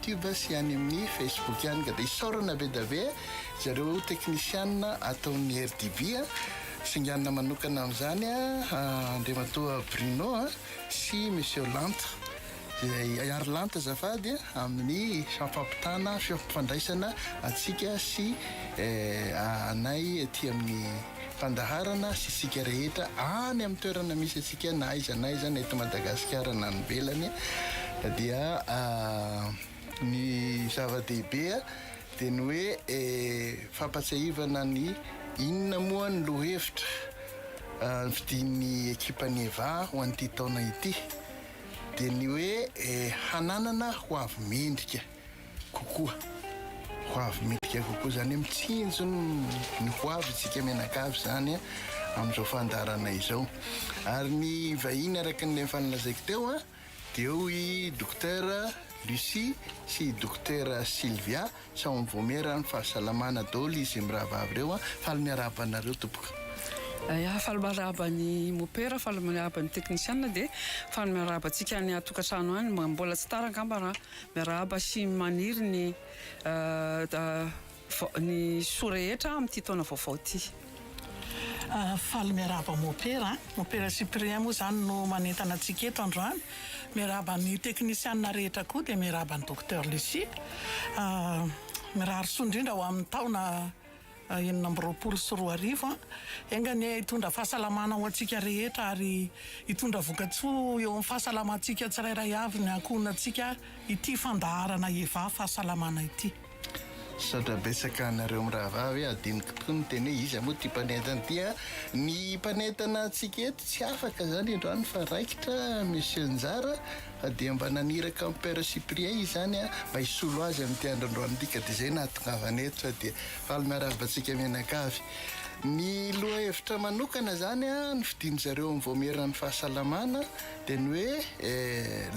Tube sy any amin'ny Facebook ihany ka dia isaorana be dia be zareo teknisianina ataon'ny RDB a, singanina manokana amin'izany Andriamatoa Bruno a sy Monsieur Lanta izay Iary Lanta azafady a amin'ny fampitana, fifampifandraisana antsika sy anay ety amin'ny. Fandaharana sy isika rehetra any amin'ny toerana misy antsika na aiza na aiza na eto Madagasikara na any ivelany dia ny zava-dehibe dia ny hoe fampatsiahivana ny inona moa ny lohevitra novidian'ny ekipan'ny Eva ho an'ity taona ity dia ny hoe hananana ho avy mendrika. kokoa, ho avy midika kokoa, izany hoe mitsinjo ny ho avy isika mianakavy izany an, amin'izao fandaharana izao. Ary ny vahiny araka ny efa nolazaiko teo an, dia eo i Dokotera Lucie sy i Dokotera Sylvia, sao mivoamera amin'ny fahasalamana daholo izy mirahavavy ireo an, faly miarahaba anareo tompoko. Yah, faly miarahaba ny mopera, faly miarahaba ny teknisiana, dia faly miarahaba antsika any an-tokantrano any, mbola tsy tara angamba raha Miarahaba sy maniry ny ny soa rehetra amin'ity taona vaovao ity. Faly miarahaba Mopera a! Mopera Cyprien moa izany no manentana antsika eto androany. Miarahaba ny teknisiana rehetra koa dia miarahaba an'i Docteur Lucie. Mirary soa indrindra ho amin'ny taona. enina amby roapolo sy roa arivo. Enga anie hitondra fahasalamana ho antsika rehetra ary hitondra vokatsoa eo amin'ny fahasalamantsika tsirairay avy ny ankohonantsika ity fandaharana Eva fahasalamana ity. Misaotra betsaka anareo mirahavavy e, adinoko tokoa ny teny hoe iza moa ity mpanentana ity a. Ny mpanentana antsika eto tsy afaka zany androany fa raikitra Monsieur Njara Fa dia mba naniraka an'i Père Cyprien izany mba hisolo azy amin'ity andro androan'alika dia izay no nahatongavany eto sao dia faly miarahaba antsika mianakavy. Ny lohahevitra manokana izany nofidian-dry zareo amin'ny Vaomieran'ny fahasalamana dia ny hoe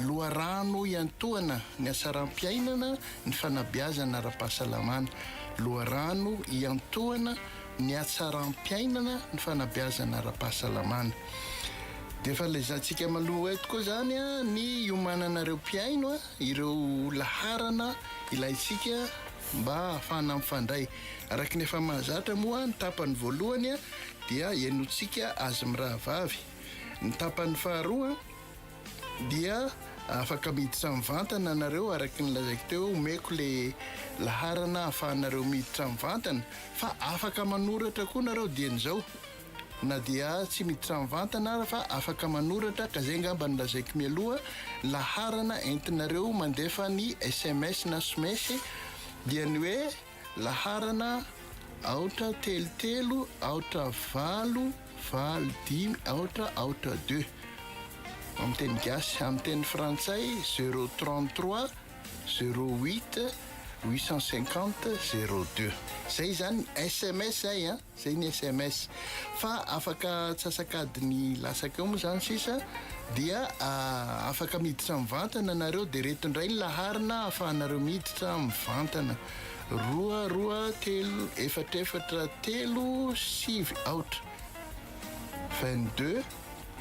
loharano iantohana ny hatsaram-piainana ny fanabeazana ara-pahasalamana, loharano iantohana ny hatsaram-piainana, ny fanabeazana ara-pahasalamana. Dia efa lazaintsika maloha eto koa izany ny hiomanana ireo mpihaino, ireo laharana ilaintsika mba hahafahana mifandray. Araka ny efa mahazatra moa ny tapany voalohany dia henointsika azy mirahavavy. Ny tapany faharoa. Dia afaka miditra mivantana nareo araky ny lazaiko teo omeko le laharana ahafahanareo miditra mivantana fa afaka manoratra koa nareo dieny zao na dia tsy miditra mivantana ara fa afaka manoratra ka zay ngamba ny lazaiko mialoha laharana entinareo mandefa ny sms na smesy dia ny hoe Laharana, aotra, telo, telo, aotra, valo, valo, dimy, aotra, aotra, deux. Amin'ny teny gasy. Amin'ny teny frantsay, zero, trente, trois, zero, huit, huit cent cinquante, zero, deux. Izay izany sms ay an! Zay ny sms. Fa afaka atsasak'adiny latsaka eo moa zany sisa dia afaka miditra mivantana nareo dia reto indray ny laharina ahafahanareo miditra mivantana, roa roa telo efatra efatra telo sivy aotra, 22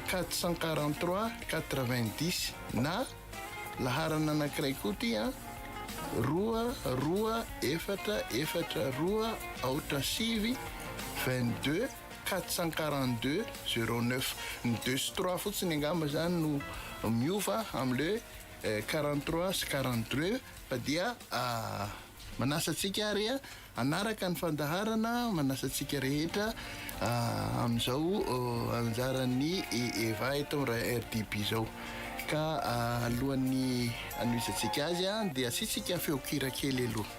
443 90 na. Laharana anankiray koa ity an, roa, roa, efatra, efatra, roa, aotra, sivy, vingt deux, quatre cent quarante deux, zero neuf. Ny deux sy trois fotsiny angamba izany no miova amin'ilay quarante trois sy quarante deux fa dia manasa antsika ary an, Hanaraka ny fandaharana manasa antsika rehetra amin'izao anjaran'ny Eva eto amin'ny RDB izao. Ka alohan'ny hanohizantsika azy dia asiantsika feon-kira kely aloha.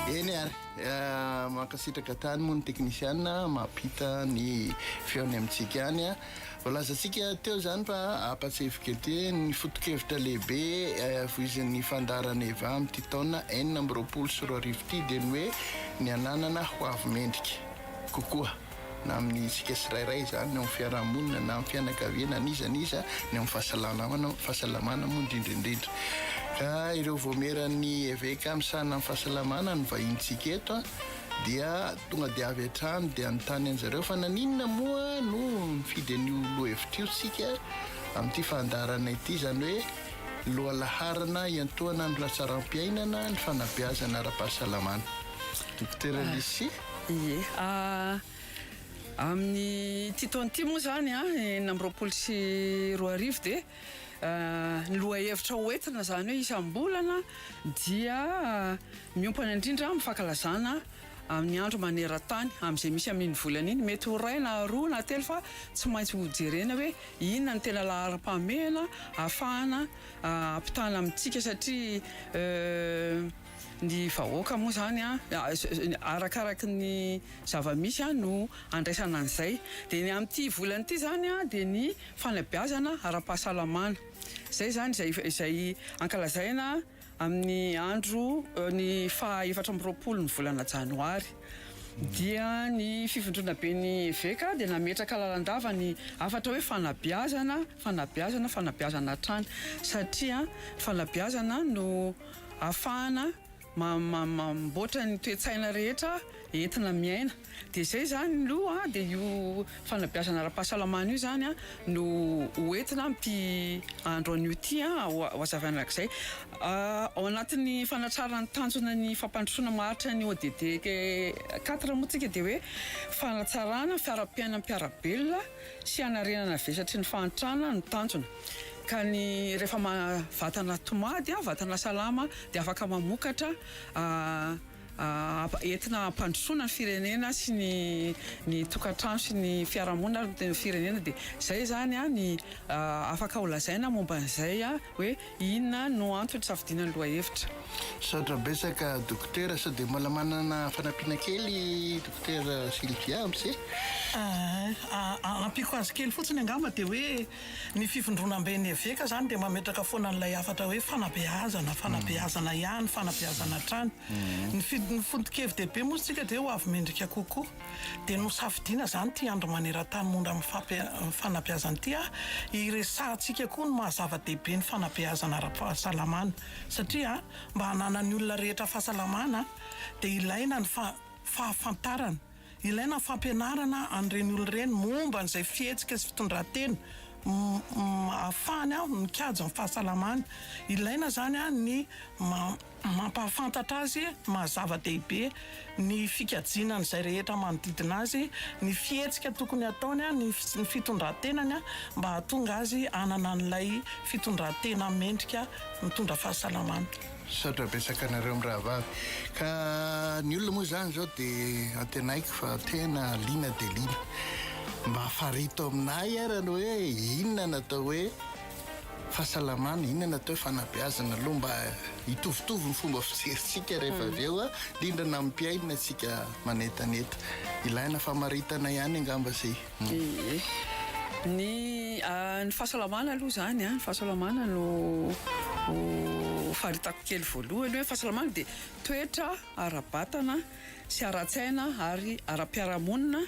Eny ary, eh, mankasitraka tany moa ny teknisiana mampita ny feony amintsika any. Eh. Voalazantsika teo zany fa ampatsefo kety ny fotokevitra lehibe eh, voizin'ny fandaharana eva amin'ity taona enina amby roapolo sy roa arivo ity dia ny hoe ny ananana ho avy mendrika kokoa. na amin'ny isika tsirairay izany, ny ao amin'ny fiarahamonina na amin'ny fianakaviana, an'iza an'iza, ny amin'ny fahasalamana, fahasalamana moa indrindra indrindra. Ka ireo voamieran'ny eveka misahana amin'ny fahasalamana no vahinintsika eto a, dia tonga dia avy hatrany dia nitany an'i zareo fa naninona moa no nifidy an'io lohahevitra io isika amin'ity fandaharana ity, izany hoe ny lohalaharana hiantohana ny hatsaram-piainana, ny fanabeazana ara-pahasalamana. Dokotera Lucie. Ie. Amin'ity taona ity moa izany, enina amby roapolo sy roa arivo, dia ny lohahevitra hoentina izany hoe isam-bolana dia miompana indrindra amin'ny fankalazana amin'ny andro maneran-tany amin'izay misy amin'iny volana iny. Mety ho iray na roa na telo fa tsy maintsy hojerena hoe inona no tena laharam-pahamehana ahafahana ampitana amintsika satria Ny vahoaka moa izany arakaraky ny zava-misy no andraisana an'izay. Dia ny amin'ity volana ity izany dia ny fanabeazana ara-pahasalamana. Izay izany izay ankalazaina amin'ny andro, ny faha efatra amby roapolo ny volana janoary. Dia ny fivondrona ben'ny eveka dia nametraka lalandava ny hafatra hoe fanabeazana, fanabeazana, fanabeazana hatrany. Satria ny fanabeazana no. ahafahana mamboatra ny toe-tsaina rehetra entina miaina dia izay izany aloha dia io fanabeazana ara-pahasalamana io zany no ho entina amin'ity andro anio ity hohazavaina izay ao anatin'ny fanatrarana ny tanjona ny fampandrosoana maharitra ny ODD quatre moa isika dia hoe fanatsarana fiaram-piainan'ny mpiara-belona sy hanarenana vesatry ny fahantrana no tanjona. Ka ny rehefa maha vatana tomady an, vatana salama dia afaka mamokatra entina hampandrosoana ny firenena sy ny ny tokantrano sy ny fiarahamonina ary ny firenena dia izay zany an ny afaka ho lazaina momba an'izay an hoe inona no antony hisafidiana ny lohahevitra. Misaotra betsaka Dokotera, sao dia mbola manana fanampiana kely Dokotera Sylvia am'se? Ampiko azy kely fotsiny angamba dia hoe. Ny fivondronamben'ny eveka izany dia mametraka foana an'ilay hafatra hoe fanabeazana, fanabeazana ihany, fanabeazana hatrany. Ny fidin'ny foto-kevi-dehibe moa isika dia ho avy mendrika kokoa. Dia nosafidiana izany ity andro maneran-tany momba ny fanabeazana ity an, hiresahantsika koa ny maha-zava-dehibe ny fanabeazana ara-pahasalamana. Satria mba hananan'ny olona rehetra fahasalamana dia ilaina ny fahafantarana. Ilaina ny fampianarana an'ireny olona ireny momba an'izay fihetsika sy fitondran-tena ahafahany mikajy ny fahasalamany. Ilaina izany ny mampahafantatra azy maha-zava-dehibe ny fikajiana an'izay rehetra manodidina azy, ny fihetsika tokony hataony, ny fitondran-tenany mba hahatonga azy hanana an'ilay fitondran-tena mendrika mitondra fahasalamana. Misaotra betsaka anareo mirahavavy. Ka ny olona moa izany izao dia antenaiko fa tena liana dia liana. Mba farito aminay ara ny hoe inona natao hoe fahasalamana, inona natao hoe fanabeazana aloha mba hitovitovy ny fomba fijerintsika rehefa hmm. avy eo, indrindra na amin'ny mpiaina antsika manetaneta. Ilaina famaritana ihany angamba izay. Ee. Ny ny fahasalamana aloha izany an, ny fahasalamana no faritako kely voalohany hoe fahasalamana dia toetra ara-batana sy ara-tsaina ary ara-piarahamonina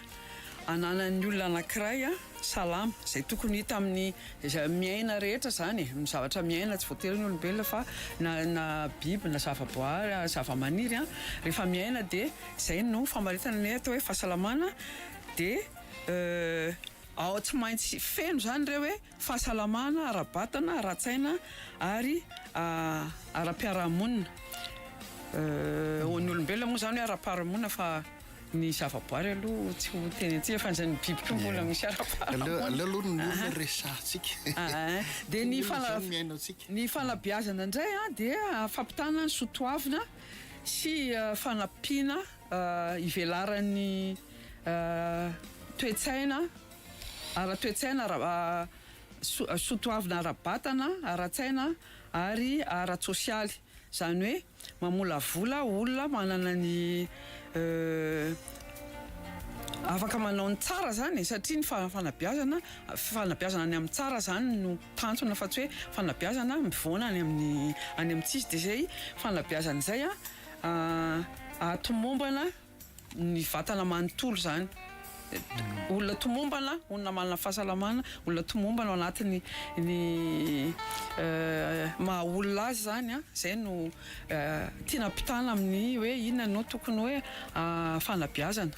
ananan'ny olona anankiray salama, izay tokony hita amin'ny izay miaina rehetra izany e, amin'ny zavatra miaina tsy voatery ny olombelona fa na na biby na zavaboary, zavamaniry an, rehefa miaina dia izay no famaritana ny atao hoe fahasalamana. Dia ao tsy maintsy feno izany ireo hoe fahasalamana ara-batana, ara-tsaina ary ara-piarahamonina. Ho an'ny olombelona moa izany hoe ara-piarahamonina fa ny zavaboary aloha tsy ho tenentsika fa izany biby koa mbola misy ara-piarahamonina. Aleo aloha ny olona resahantsika. Dia ny fanabeazana ny fanabeazana indray dia fampitana ny soatoavina sy fanampiana. Ivelaran'ny toe-tsaina ara-toe-tsaina, ara, soatoavina ara-batana, ara-tsaina ary ara-tsosialy. Izany hoe mamolavola olona manana ny afaka manao ny tsara izany e, satria ny fanabeazana, fanabeazana any amin'ny tsara izany no tanjona fa tsy hoe fanabeazana mivaona any amin'ny, any amin'ny tsisy. Dia izay fanabeazana izay an. A Tomombana ny vatana manontolo izany. Olona tomombana, olona manana fahasalamana, olona tomombana ao anatin'ny ny maha olona azy izany a, izay no tiana ampitana amin'ny hoe inona no tokony hoe fanabeazana.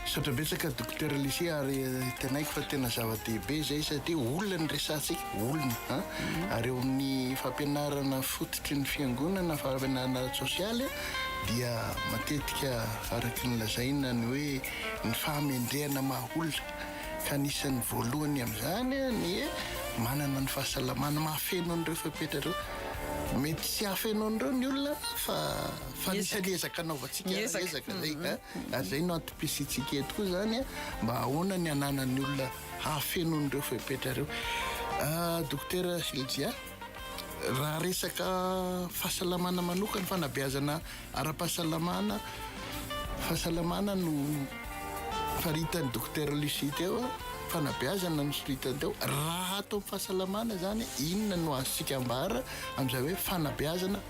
Misaotra betsaka Dokotera Lucie ary tenaiko fa tena zava-dehibe izay satria olona ny resahantsika, olona a. Mhm. Ary eo amin'ny fampianarana fototry ny fiangonana, fampianarana ara-tsosialy dia matetika araka ny lazaina ny hoe ny fahamendrehana maha-olona ka anisan'ny voalohany amin'izany ny manana ny fahasalamana mahafeno an'ireo fepetra ireo mety tsy hafeno an'ireo ny olona fa Fa misy alezaka anaovantsika Miezaka. alezaka zay a ary zay no antom-pisiantsika eto koa zany a mba ahoana ny ananan'ny olona hahafeno an'ireo fepetra ireo Ah, dokotera Ejia raha resaka fahasalamana manokana fanabeazana ara-pahasalamana fahasalamana no faritan'ny dokotera Lucie teo a, fanabeazana no soritany teo raha ato amin'ny fahasalamana zany inona no azontsika ambara amin'izay hoe fanabeazana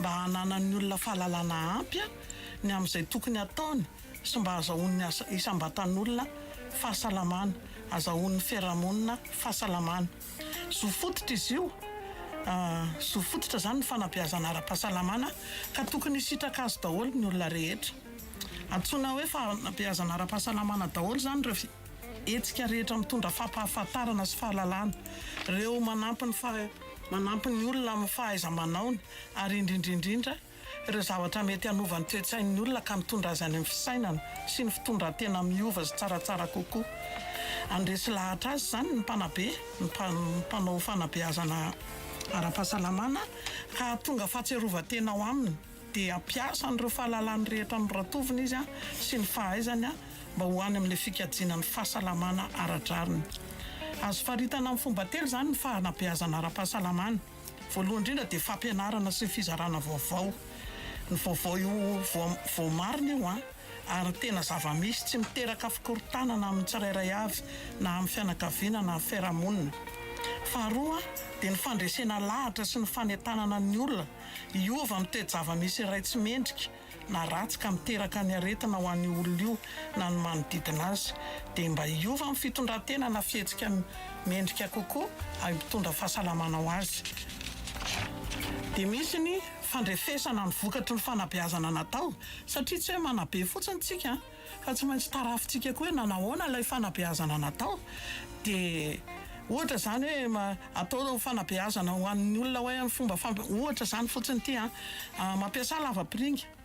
mba hananan'ny olona fahalalana ampy ny amin'izay tokony hataony sy mba hazahoan'ny asa isam-batan'olona fahasalamana, hazahoan'ny fiarahamonina fahasalamana. Zo fototra izy io, zo fototra izany ny fanabeazana ara-pahasalamana ka tokony hisitraka azy daholo ny olona rehetra. Antsoina hoe fanabeazana ara-pahasalamana daholo izany ireo. Hetsika rehetra mitondra fampahafantarana sy fahalalana, ireo manampy ny manampy ny olona amin'ny fahaiza-manaony ary indrindra indrindra ireo zavatra mety hanova ny toe-tsain'ny olona ka mitondra azy any amin'ny fisainana sy ny fitondran-tena miova sy tsaratsara kokoa. Handresy lahatra azy izany ny mpanabe, ny mpanao fanabeazana ara-pahasalamana ka hahatonga fahatsiarovan-tena ao aminy. dia hampiasa an'ireo fahalalany rehetra noratoviny izy sy ny fahaizany mba ho any amin'ilay fikajiana ny fahasalamana ara-drariny. Azo faritana amin'ny fomba telo izany ny fanabeazana ara-pahasalamana. Voalohany indrindra dia fampianarana sy ny fizarana vaovao. Ny vaovao io voamarina io ary tena zava-misy tsy miteraka fikorontanana amin'ny tsirairay avy na amin'ny fianakaviana na fiarahamonina. Faharoa dia ny fandresena lahatra sy ny fanentanana ny olona. Hiova amin'ny toe-java-misy iray tsy mendrika na ratsy ka miteraka ny aretina ho an'io olona io na ny manodidina azy, dia mba hiova amin'ny fitondran-tena na fihetsika mendrika kokoa ary mpitondra fahasalamana ho azy. Dia misy ny fandrefesana ny vokatry ny fanabeazana natao, satria tsy hoe manabe fotsiny tsika, Ka tsy maintsy tarafintsika koa hoe nanahoana ilay fanabeazana natao. Dia ohatra izany hoe atao fanabeazana ho an'ny olona hoe amin'ny fomba fampi-, ohatra izany fotsiny ity an, mampiasa lavapiringa.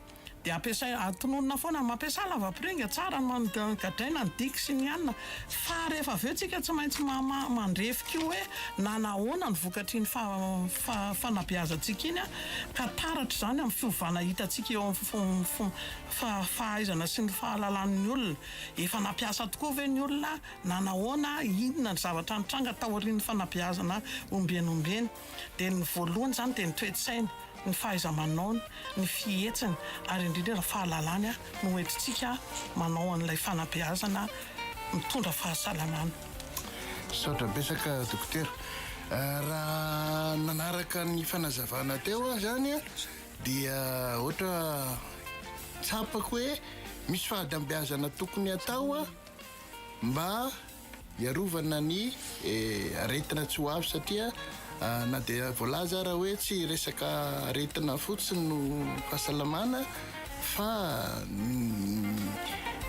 Dia ampiasaina, atononina foana, mampiasa lavapiringa, tsara ny man-, gadraina ny diky sy ny anona. Fa rehefa avy eo tsika tsy maintsy ma-, mandrefy koa hoe nanahoana ny vokatr'iny fa-, fa-, fanabeazantsika iny an, ka taratra izany amin'ny fiovana hitantsika eo amin'ny fo-, fo-. Fa fahaizana sy ny fahalalan'ny olona. Efa nampiasa tokoa ve ny olona na nahoana, inona ny zavatra nitranga taorian'ny fanabeazana ombieny ombieny? Dia ny voalohany izany dia ny toe-tsainy, ny fahaiza-manaony, ny fihetsiny ary indrindra ny fahalalany no hoentintsika manao an'ilay fanabeazana mitondra fahasalamana. Misaotra betsaka Dokotera. Raha nanaraka ny fanazavana teo aho izany Dia ohatra tsapako hoe misy fahadambeazana tokony atao mba hiarovana ny eh, aretina tsy ho avy satria ah, na dia voalaza ara hoe tsy resaka aretina fotsiny no fahasalamana fa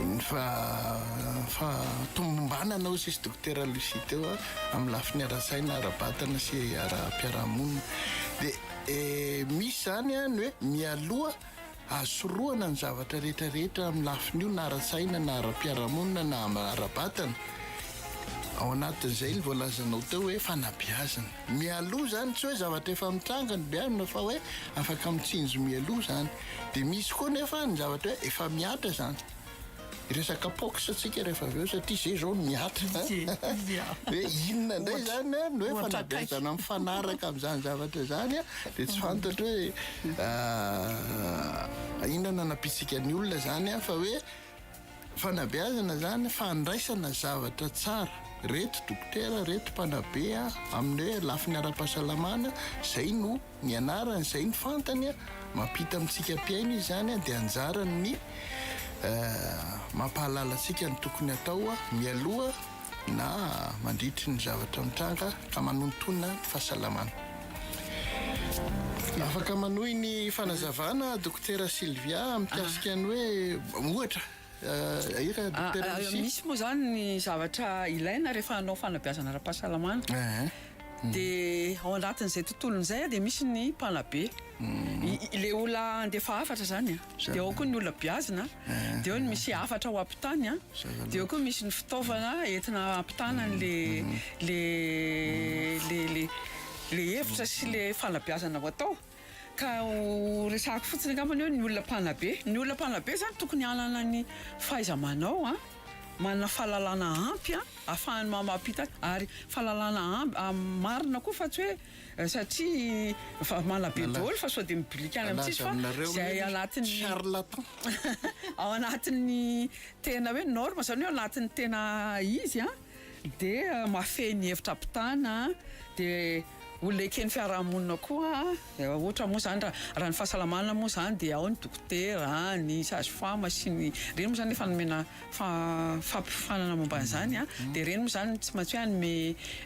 ny fa fa tomombanana hoy sisy dokotera Lucie teo amin'ny lafiny ara-tsaina, ara-batana sy ara-piarahamonina. Dia Eh, misy zany an, ny hoe mialoha hasorohana ny zavatra rehetra rehetra amin'ny lafiny io na ara-tsaina na ara-piarahamonina na ara-batana, ao anatin'izay ny voalazanao teo hoe fanabeazana. Mialoha zany tsy hoe zavatra efa mitranga no beazina fa hoe afaka mitsinjo mialoha zany. Dia misy koa nefa ny zavatra hoe efa mihatra zany. Hiresaka pox tsika rehefa avy eo satria zay zao no mihatra a! Hoe inona indray zany a, ny hoe fanabeazana mifanaraka amin'izany zavatra zany a, dia tsy fantatro hoe inona no anampiantsika ny olona zany a, fa hoe fanabeazana zany, fandraisana zavatra tsara, reto dokotera, reto mpanabe a, amin'ny hoe lafiny ara-pahasalamana, zay no. Ny anarany izay no fantany a, mampita amintsika mpihaino izany a, dia anjarany ny mampahalala antsika ny tokony hatao a, mialoha na mandritry ny zavatra mitranga ka manontona ny fahasalamana. Afaka manohy ny fanazavana Dokotera Sylvia mikasika ny hoe ohatra. Ahiana Dokotera Lucie. Misy moa izany ny zavatra ilaina rehefa hanao fanabeazana ara-pahasalamana. Dia ao anatin'izay tontolony izay dia misy ny mpanabe. Ilay olona handefa hafatra izany. Dia ao koa ny olona beazina. Dia eo ny misy hafatra ho ampitany. Dia eo koa misy ny fitaovana entina hampitana an'ilay hevitra sy ilay fanabeazana ho atao. Ka ho resahako fotsiny angamba ny hoe ny olona mpanabe. Ny olona mpanabe izany tokony hanana ny fahaiza-manao, manana fahalalana ampy ahafahany mamaha-pita ary fahalalana marina koa fa tsy hoe satria manabe daholo fa sao dia mibilika any amintsika fa izay ao anatin'ny tena hoe norme izany hoe ao anatin'ny tena izy. Dia mahafehy ny hevitra ampitana, dia ho leken'ny fiarahamonina koa, ohatra moa izany raha ny fahasalamana moa izany dia ao ny dokotera, ny sage femme sy ny ireny moa izany efa nomena fampiofanana momba an'izany dia ireny moa izany tsy maintsy hoe hanome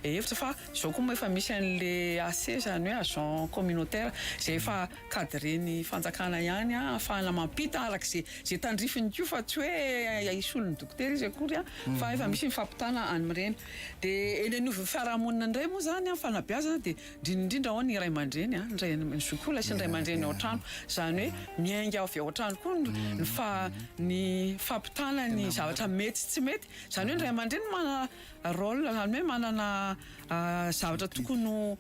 hevitra fa izao koa moa efa misy an'ilay AC izany hoe agent communautaire izay efa cadren'ny fanjakana ihany ahafahana mampita araka izay izay tandrifiny koa fa tsy hoe hisolo ny dokotera izy akory fa efa misy ny fampitana any amin'ireny dia eny anivon'ny fiarahamonina indray moa izany amin'ny fanabeazana dia indrindra indrindra ao ny ray aman-dreny an, ny ray ny zokiolona sy ny ray aman-dreny ao an-trano izany hoe miainga avy ao an-trano koa ny fa ny fampitana ny zavatra mety sy tsy mety izany hoe ny ray aman-dreny manana rôle izany hoe manana zavatra tokony ho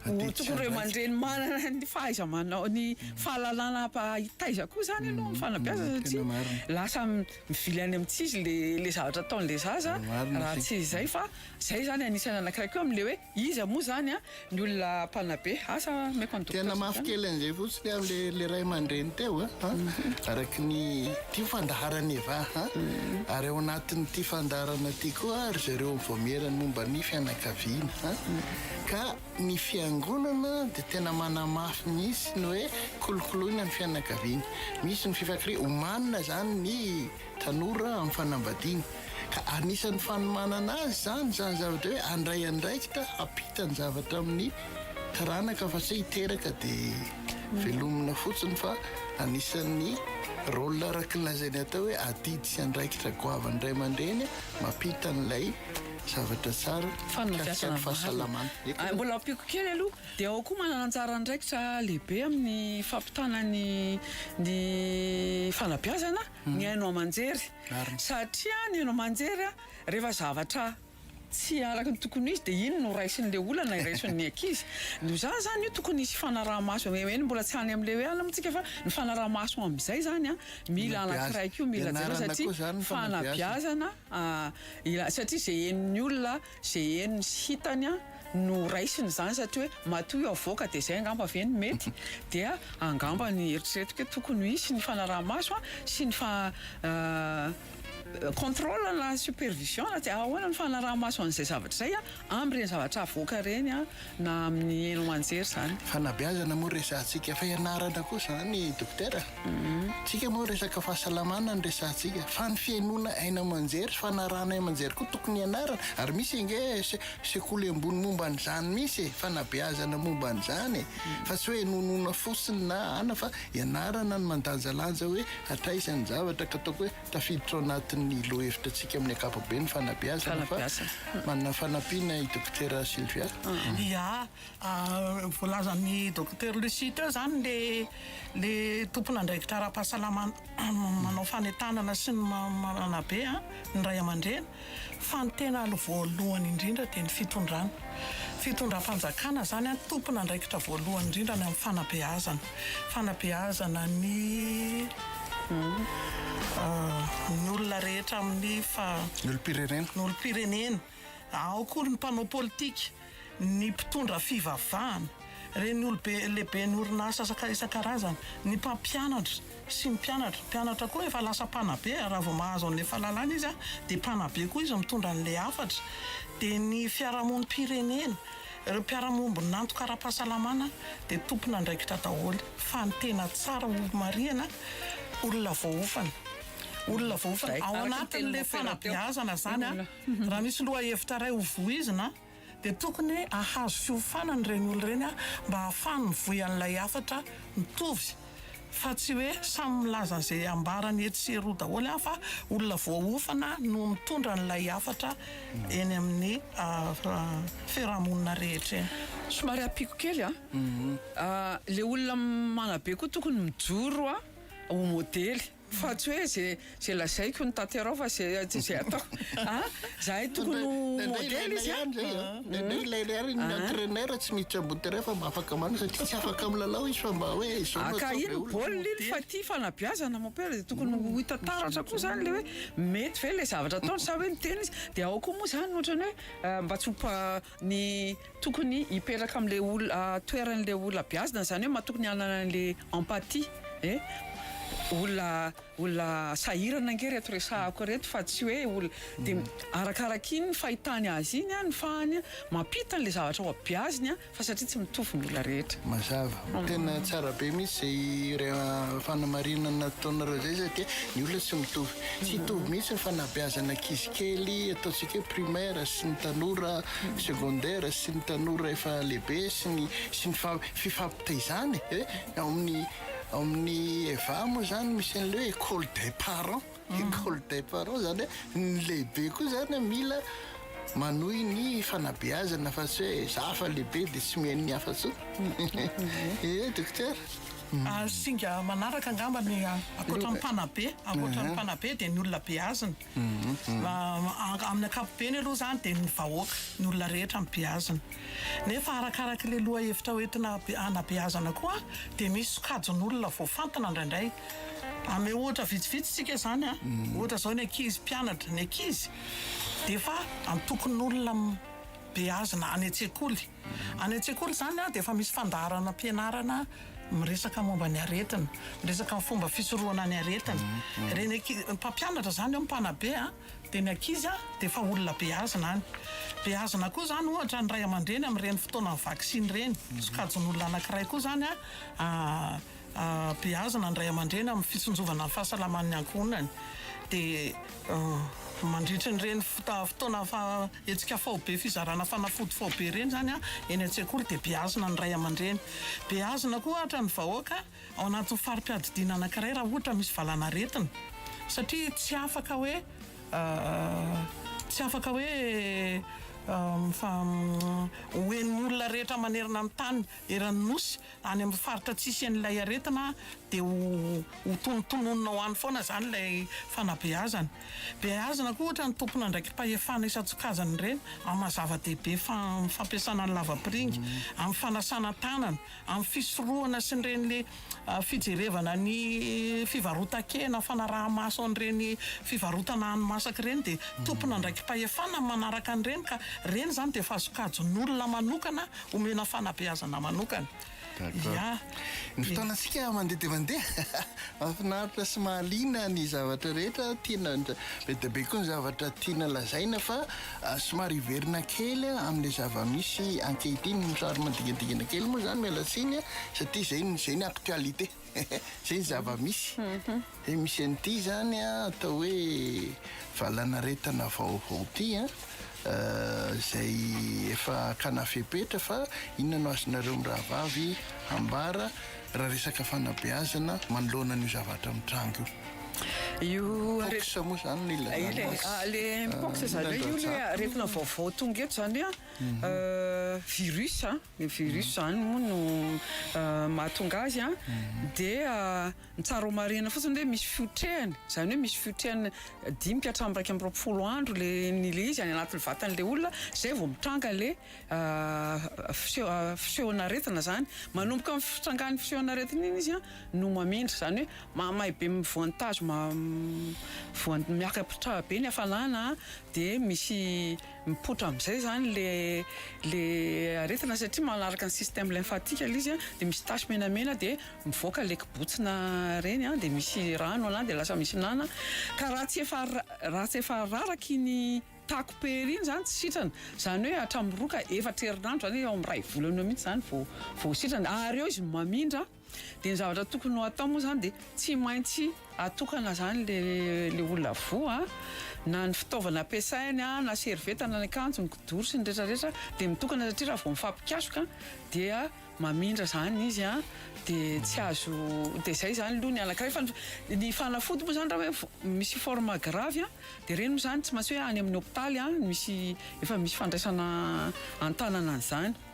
Atety tsy andraikitra. Tokony ray aman-dreny manana ny fahaiza-manao, ny fahalalana hampahitaiza koa izany aloha ny fanabeazana satria lasa mivily any amin'ny tsy izy ilay zavatra ataon'ilay zaza raha tsy izay fa izay izany anisan'ny anankiray koa amin'ilay hoe iza moa izany ny olona mpanabe. Asa omeko an'i Docteur Suzana. Tena mafy kely an'izay fotsiny ary ilay ray aman-dreny teo araka ny ity fandaharana efa ary ao anatin'ity fandaharana ity koa ry zareo mivoamiera ny momba ny fianakaviana. Ka ny fiangonana dia tena manamafy mihitsy ny hoe kolokoloina ny fianakaviana. Misy ny fifankariana, omanina izany ny tanora amin'ny fanambadiana. Ka anisan'ny fanomanana azy izany, izany zavatra hoe handray andraikitra hampita ny zavatra amin'ny taranaka fa tsy hiteraka dia velomina fotsiny fa anisan'ny rôle araka ny lazain'ny atao hoe adidy sy andraikitra goavin'ny ray aman-dreny mampita an'ilay Zavatra tsara, mikasika ny fahasalamana. Ary mbola ampiako kely aloha, dia ao koa manana anjara andraikitra lehibe amin'ny fampitana ny ny fanabeazana ny haino aman-jery. Marina. Satria ny haino aman-jery rehefa zavatra tsy araka ny tokony ho izy dia iny no raisin'ilay olana iraisin'ny ankizy. Noho izany izany io tokony hisy fanaraha-maso, eny mbola tsy any amin'ilay hoe alina moa isika fa ny fanaraha-maso amin'izay izany mila anankiray koa, mila jerena satria fanabeazana. Ilay satria izay henon'ny olona, izay henony sy hitany no raisiny izany satria hoe matoa io avoaka dia izay angamba ve no mety? Dia angamba ny eritreretiko hoe tokony ho hisy ny fanaraha-maso sy ny fa contrôle na supervision na tsy ahoana ny fanaraha-maso an'izay zavatra izay. Amby ireny zavatra avoaka ireny na amin'ny haino aman-jery izany. Fanabeazana moa resahantsika fa ianarana koa izany Dokotera a! Tsika moa resaka fahasalamana no resahantsika fa ny fihainoana haino aman-jery sy fanarahana haino aman-jery koa tokony ianarana ary misy ange sekoly ambony momba an'izany misy e! Fanabeazana momba an'izany e! Fa tsy hoe inoanoana fotsiny na ana fa ianarana ny mandanjalanja hoe hatraiza ny zavatra ka ataoko hoe Tafiditra ao anatin'ny lohevitratsika amin'ny ankapobeny ny fanabeazana fa manana fanampiana i Dokotera Sylvia. Ia, voalazan'i Dokotera Lucie teo izany ilay tompon'andraikitra ara-pahasalamana manao fanentanana sy ny manabe ny ray aman-dreny. Fa ny tena alo voalohany indrindra dia ny fitondrana. Fitondram-panjakana izany an, tompon'andraikitra voalohany indrindra ny amin'ny fanabeazana. Fanabeazana ny ny olona rehetra amin'ny fa. Ny olom-pirenena. Ny olom-pirenena. Ao koa ny mpanao politika. ny mpitondra fivavahana, ireny olobe lehiben'ny orinasa isan-karazany, ny mpampianatra sy ny mpianatra, ny mpianatra koa efa lasa mpanabe raha vao mahazo an'ilay fahalalana izy dia mpanabe koa izy mitondra an'ilay hafatra, dia ny fiarahamonim-pirenena, ireo mpiara-miombon'antoka ara-pahasalamana dia tompon'andraikitra daholo fa ny tena tsara ho marihana olona voaofana, olona voaofana ao anatin'ilay fanabeazana izany an! Raha misy lohahevitra iray ho voizina dia tokony hahazo fiofanana ireny olona ireny mba hahafahany mivoy an'ilay hafatra mitovy fa tsy hoe samy milaza izay ambarany etsy sy eroa daholo fa olona voaofana no mitondra an'ilay hafatra eny amin'ny fiarahamonina rehetra eny. Somary ampiako kely an, ilay olona manabe koa tokony mijoro ho modely. Fa tsy hoe ze ze lazaiko no tanterao fa ze tsy ze ataoko a! Zahay tokony ho modely izy a! Ndraindray ilaina ihany ny entraineur tsy miditra ambony terrain fa mba afaka manao satria tsy afaka milalao izy fa mba hoe izao no ataovy Haka iny ny baolina iny fa tia fanabeazana mon père dia tokony ho hita taratra koa izany ilay hoe mety ve ilay zavatra ataony sa hoe miteny izy dia ao koa moa izany ohatran'ny hoe mba tsy ho ny tokony hipetraka amle olona toeranle olona beazina zany hoe matokony hanana anle empathie e olona olona sahirana ange reto resahako reto fa tsy hoe olona de arakaraky iny fahitany azy iny a ny fahany a mampita anle zavatra ho beaziny a fa satria tsy mitovy ny olona rehetra mazava tena tsara be mihitsy zay fanamarina nataonareo zay satria ny olona tsy mitovy Tsy hitovy mihitsy ny fanabeazana ankizy kely, ataontsika hoe primaire, sy ny tanora secondaire, sy ny tanora efa lehibe, sy ny sy ny fa fifampitaizana e. Ao amin'ny ao amin'ny EVA moa izany misy an'ilay hoe école des parents, école des parents izany hoe ny lehibe koa izany mila manohy ny fanabeazana fa tsy hoe za efa lehibe dia tsy mihaino ny hafa intsony. Ehe dokotera. Ary singa manaraka angamba ny ankoatra ny mpanabe, ankoatra ny mpanabe dia ny olona beazina. Amin'ny ankapobeny aloha izany dia ny vahoaka, ny olona rehetra no beazina. Nefa arakaraka ilay lohahevitra hoentina hanabeazana koa dia misy sokajin'olona voafantina indraindray. Hanome ohatra vitsivitsy isika izany, ohatra izao ny ankizy mpianatra, ny ankizy dia efa antokon'olona beazina any an-tsekoly. Any an-tsekoly izany dia efa misy fandaharanam-pianarana miresaka momba ny aretina, miresaka ny fomba fisorohana ny aretina. Ireny anki- mpampianatra izany eo, mpanabe an, dia ny ankizy an, dia efa olona beazina any. Beazina koa izany, ohatra, ny ray aman-dreny amin'ireny fotoanan'ny vaksiny ireny. Sokajin'olona anankiray koa izany an. Beazina ny ray aman-dreny amin'ny fitsinjovana ny fahasalaman'ny ankohonany. Dia mandritry ireny fotoana hetsika faobe, fizarana fanafody faobe ireny izany eny an-tsekoly dia beazina ny ray aman-dreny. Beazina koa ohatra ny vahoaka ao anatin'ny fari-piadidiana anankiray raha ohatra misy valanaretina satria tsy afaka hoe tsy afaka hoe ho henon'olona rehetra manerana ny tany eran'ny Nosy Any amin'ny faritra tsy hisian'ilay aretina dia ho tonontononina ho any foana izany ilay fanabeazana. Beazina koa ohatra ny tompon'andraiki-pahefana isan-tsokajiny ireny amin'ny maha-zava-dehibe ny fampiasana ny lavapiringa amin'ny fanasana tanana, amin'ny fisorohana sy ireny fijerevana ny fivarotan-kena, fanaraha-maso an'ireny fivarotana hani-masaka ireny dia tompon'andraiki-pahefana ny manaraka an'ireny ka ireny izany dia efa sokajin'olona manokana omena fanabeazana manokana. D'accord. Ny fotoanantsika mandeha dia mandeha. Mahafinaritra sy mahaliana ny zavatra rehetra. Tiana be dia be koa ny zavatra tiana lazaina fa somary hiverina kely amin'ilay zava-misy ankehitriny. Somary manodingadingana kely moa izany, miala tsiny, satria izay no actualité. Zay ny zava-misy. Dia misy an'ity izany atao hoe valanaretina vaovao ity an, izay efa hakana fepetra fa inona no azonareo mirahavavy ambara raha resaka fanabeazana manoloana an'io zavatra mitranga io. Io pox moa izany no ilazana azy. Ah, le pox izany hoe io le aretina vaovao tonga eto izany an, virus an. Ny virus izany moa no mahatonga azy an, dia ny tsara ho marihina fotsiny hoe misy fiotrehany, izany hoe misy fiotrehany dimy ka hatramin'ny iraika amby roapolo andro ilay ilay izy any anatin'ny vatan'ilay olona izay vao mitranga ilay fiseho- fisehon'aretina izany. Manomboka amin'ny fitrangan'ny fisehon'aretina iny izy no mamindra, izany hoe mahamay be amin'ny voan'ny tazo, voan'ny miaka-pitraba be ny hafalana dia misy Mipoitra amizay zany le le aretina satria manaraka ny système lymphatique ilay izy dia misy tache menamena dia mivoaka le kibotsina reny dia misy rano anany dia lasa misy nana ka raha tsy efa raha tsy efa raraka iny taco pery iny zany tsy sitrana zany hoe hatramin'ny roa ka efatra herinandro zany eo amin'ny iray volana eo mihintsy zany vao vao sitrana ary eo izy mamindra Dia ny zavatra tokony ho atao moa izany dia tsy maintsy atokana izany ilay olona voa, na ny fitaovana ampiasainy, na servieta, na ny akanjo, ny kidoro sy ny rehetra rehetra dia mitokana satria raha vao mifampikasoka dia mamindra izany izy dia tsy azo, dia izay izany aloha ny anankiray fa ny fanafody moa izany raha hoe misy forme grave dia ireny moa izany tsy maintsy hoe any amin'ny hopitaly misy, efa misy fandraisana an-tanana an'izany.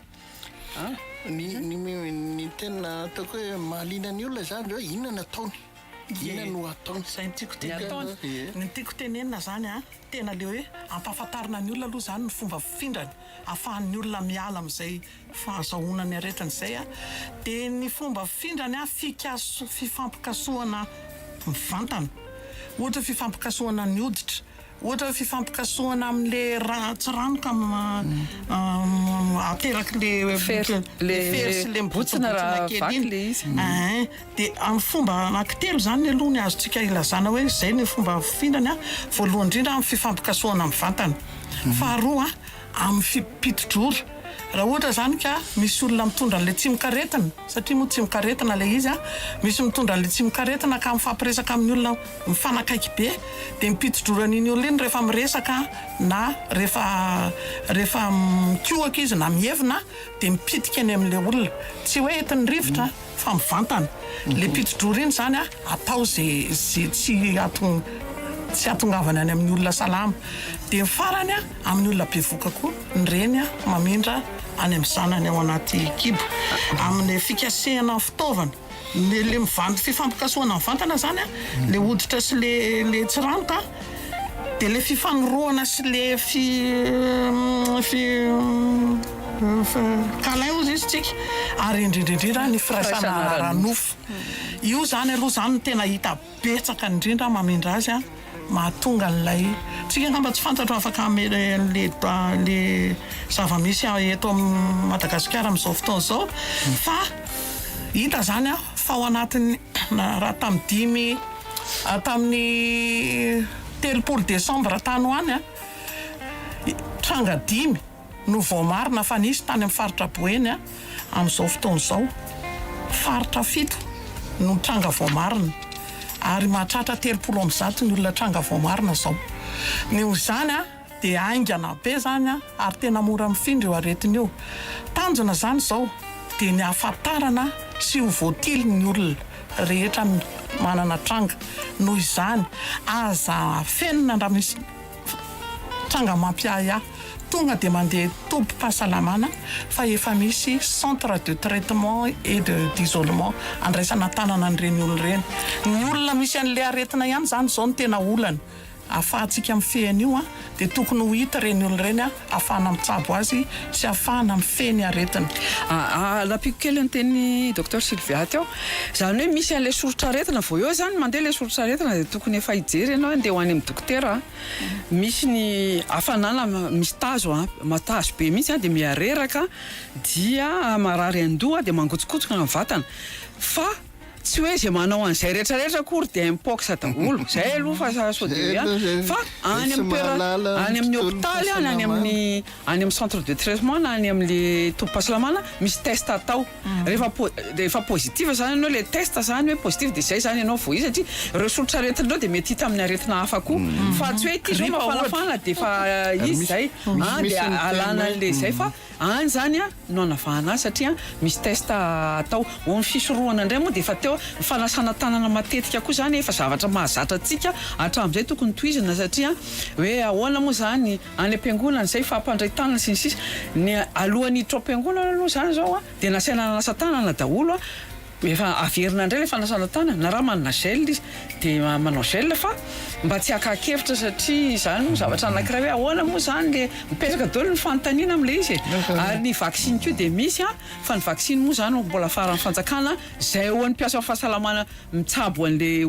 An? Ny, ny, ny tena ataoko hoe mahaliana ny olona izany hoe inona no ataony. Inona no ataony. Izay no tiako Dia tenenina. ataony. Ie. Ny tiako tenenina izany an, tena ilay hoe ampahafantarina ny olona aloha izany ny fomba fifindrany, ahafahan'ny olona miala amin'izay fahazahoana ny aretina izay an. Dia ny fomba fifindrany an, fikaso- fifampikasohana mivantana. Ohatra hoe fifampikasohana ny hoditra, Ohatra fifampikasohana amin'le tsy rano ka aterak'le le fery sy le mibontsina kely iny eeh de amin'ny fomba anankitelo zany aloha ny azontsika ilazana hoe zay ny fomba fihinany a, voalohany indrindra amin'ny fifampikasohana mivantana, faharoa. amin'ny fipitodrora raha ohatra izany ka misy olona mitondra an'ilay tsimokaretina, satria moa tsimokaretina ilay izy a, misy mitondra an'ilay tsimokaretina ka mifampiresaka amin'ny olona mifanakaiky be dia ny mpitodrora an'iny olona iny rehefa miresaka na rehefa rehefa mikohaka izy na mievina dia mipitika any amin'ilay olona, tsy hoe entin'ny rivotra fa mivantana, ilay mpitodrora iny izany a atao izay izay tsy tsy hahatongavany any amin'ny olona salama, dia ny farany a. Amin'ny olona bevoka koa ny reny mamindra any amin'ny zanany ao anaty kibo. Amin'ny fikasehana ny fitaovana, ilay mivandy fifampikasohana mivantana izany, ilay hoditra sy ilay tsiranoka, dia ilay fifanorohana sy ilay câlin hozy izy tsika, ary indrindra indrindra ny firaisana ara-nofo. Io izany aloha izany no tena hita. betsaka indrindra mamindra azy an mahatonga an'ilay tsika angamba tsy fantatro afaka hamela le le zava-misy eto amin'ny Madagasikara amin'izao fotoana izao fa hita zany an fa ao anatin'ny raha tamin'ny dimy tamin'ny telopolo desambra tany ho any an tranga dimy no voamarina fa nisy tany amin'ny faritra Boeny amin'izao fotoana izao. Faritra fito no tranga voamarina ary mahatratra telopolo amby zato ny olona tranga voamarina izao. Noho izany dia haingana be izany ary tena mora mifindra io aretina io. Tanjona izany izao dia ny hahafantarana sy ho voatily ny olona rehetra manana tranga. Noho izany aza afenina raha misy. Tranga mampiahy ahy. Tonga dia mandeha tobim-pahasalamana fa efa misy centre de traitement et de d'isolement andraisana an-tanana an'ireny olona ireny. Ny olona misy an'ilay aretina ihany izany izao no tena olana. Ahafahantsika mifehy an'io dia tokony ho hita ireny olona ireny ahafahana mitsabo azy sy ahafahana mifehy ny aretina. Alampiko kely ny teny Docteur Sylvia teo. Izany hoe misy an'ilay soritr'aretina, vao eo izany mandeha ilay soritr'aretina dia tokony efa hijery ianao hoe andeha ho any amin'ny dokotera an. Misy ny hafanana misy tazo, tazo be mihitsy dia miha reraka dia marary an-doha dia mangotsokotsoka ny vatana fa. Tsy hoe izay manao an'izay rehetra rehetra akory dia mpox daholo, izay aloha fa sao dia hoe any, fa any amin'ny toerana, any amin'ny hopitaly any, any amin'ny, any amin'ny centre de traitement na any amin'le tobim-pahasalamana misy test atao, rehefa po- rehefa positif zany ianao le test zany hoe positif dia izay zany ianao vao izy satria ireo soritr'aretin'ireo dia mety hita amin'ny aretina hafa koa, fa tsy hoe ity izao mafanafana dia efa izy izay, an dia alana an'le izay fa any zany an. no anavahana azy satria misy test atao ho amin'ny fisorohana indray moa dia efa teo ny fanasana tanana matetika koa izany efa zavatra mahazatra antsika hatramin'izay tokony tohizina satria hoe ahoana moa izany any am-piangonana izay fampandray tanana sy ny sisa ny alohan'ny hiditra ao am-piangonana aloha izany izao dia nasaina nanasa tanana daholo Efa averina indray ilay fanasana tanana, na raha manana gel izy dia manao gel fa mba tsy haka-kevitra satria izany moa zavatra anankiray hoe ahoana moa izany le, mipetraka daholo ny fanontaniana amin'ilay izy e! ary ny vaksiny koa dia misy an, fa ny vaksiny moa izany mbola faran'ny fanjakana, izay ho an'ny mpiasan'ny fahasalamana mitsabo an'ilay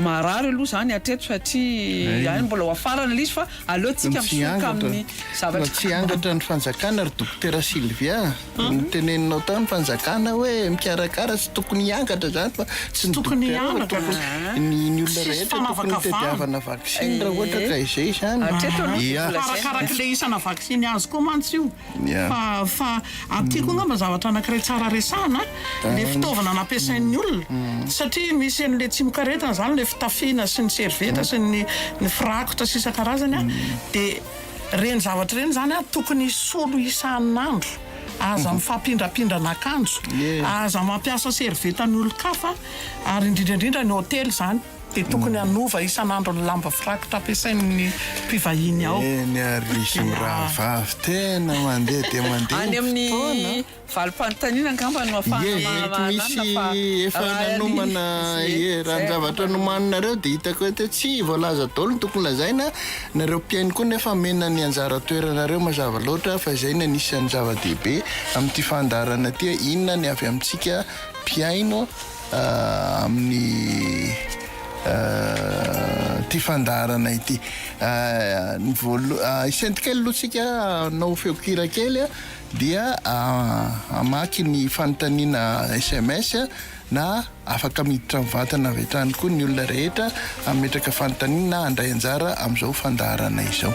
maharary aloha izany hatreto satria any mbola ho afarana ilay izy fa aleontsika misoka amin'ny zavatra. Tsy angatra ny fanjakana ry Dokotera Sylvia a! Noteneninao tao ny fanjakana hoe mikarakara tsy tokony hiangatra izany fa tsy ny tokony hiangatra fa ny ny olona rehetra tokony hitadiavana vaksiny raha ohatra ka izay izany ia arakaraka ilay isana vaksiny azo koa mantsy io fa fa aty koa angamba zavatra anankiray tsara resahana ilay fitaovana nampiasain'ny olona satria misy an'ilay tsimokaretina izany ilay fitafiana sy ny servieta sy ny ny firakotra sy isan-karazany a dia Ireny zavatra ireny izany ary tokony hisolo isan'andro. Aza mifampindrapindrana akanjo, aza mampiasa servietan'ny olon-kafa ary indrindra indrindra ny hotely izany dia tokony hanova isan'andro ny lamba firakotra ampiasain'ny mpivahiny ao. Eny ary ry ry rahavavy tena mandeha dia mandeha ny fotoana a! Valim-panontaniana angamba no afahana mahalala fa raha nomana ie raha ny zavatra nomaninareo dia hitako eto hoe tsy voalaza daholo ny tokony lazaina nareo mpihaino koa nefa amena ny anjara toeranareo mazava loatra fa izay ny anisan'ny zava-dehibe amin'ity fandaharana ity inona ny avy amintsika mpihaino amin'ny ity fandaharana ity ny voalo isentokely aloha tsika hanao feonkira kely dia hamaky ny fanontaniana sms na afaka miditra mivantana avy hatrany koa ny olona rehetra hametraka fanontaniana na handray anjara amin'izao fandaharana izao.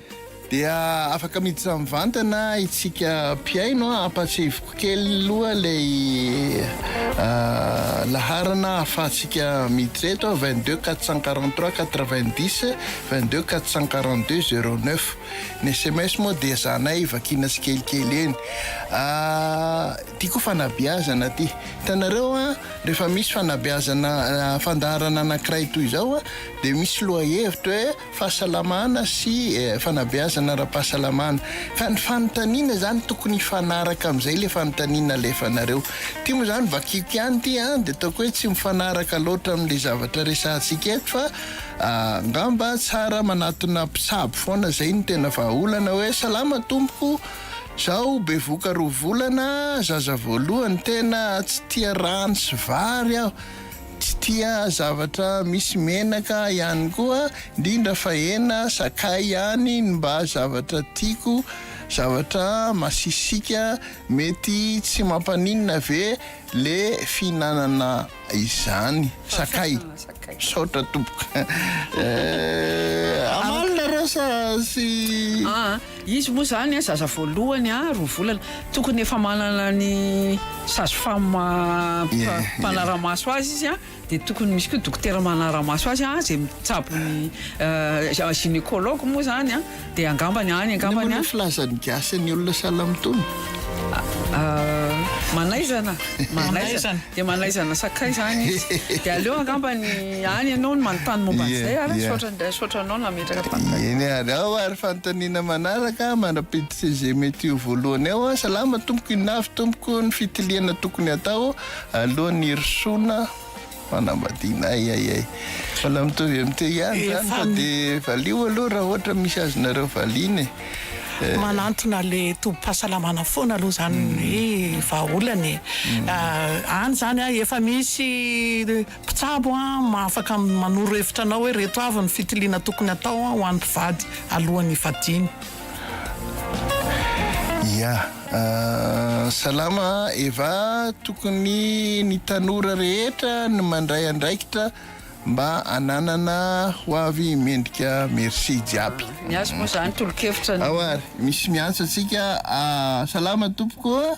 Dia afaka miditra mivantana itsika mpihaino an! Ampahatsiahiviko kely aloha ilay laharana ahafahantsika miditra eto an! 22 443 90 22 442 09 Ny sms moa dia ezahanay vakiana tsikelikely eny Ity koa fanabeazana ity Hitanareo an! Rehefa misy fanabeazana fandaharana anankiray toy izao an! Dia misy lohahevitra hoe fahasalamana sy fanabeazana ara-pahasalamana ka ny fanontaniana izany tokony hifanaraka amin'izay ilay fanontaniana alefanareo ity moa izany vakiko ihany ity an dia ataoko hoe tsy mifanaraka loatra amin'ilay zavatra resahantsika eto fa angamba tsara manatona mpitsabo foana izay no tena vahaolana hoe salama tompoko zaho bevoka roa volana zaza voalohany tena tsy tia rano sy vary aho Tsy tia zavatra misy menaka ihany koa, indrindra fa hena, sakay ihany ny mba zavatra tiako, zavatra masisika, mety tsy mampaninona ve le fihinanana izany? Sakay. Misaotra tompoko. Amalona rasa sy. Izy moa zany zaza voalohany a roa volana tokony efa manana ny sage femme mpanaramaso azy izy a de tokony misy koa dokotera manaramaso azy a zay mitsabo ny gynécologue moa zany a de angambany any angambany a. Inona moa ny filazan'ny gasy ny olona sahala amin'itony? Manaizana, manaizana, dia manaizana sakay izany izy. Dia aleo angamba ny any ianao no manontany momba an'izay ary misaotra indray misaotra anao nametraka tany. Eny ary ao ary fanontaniana manaraka mandra-piditra izay mety ho voalohany ao. Salama tompoko, inona avy tompoko ny fitiliana tokony hatao alohan'ny hirosoana? Fanambadiana ay ay ay. Mbola mitovy amin'ny teo ihany izany fa dia valio aloha raha ohatra misy azonareo valiana e. Manantona ilay tobim-pahasalamana foana aloha izany ny vahaolana e. Any izany an, efa misy mpitsabo afaka manoro hevitra anao hoe ireto avy ny fitiliana tokony hatao ho an'ny mpivady alohan'ny hivadiany. Ya, salama Eva, tokony ny tanora rehetra ny mandray andraikitra mba ananana ho avy mendrika merci jiaby. Ny azy moa zany tolokevitra ny. Ao ary misy miantso antsika, salama tompoko.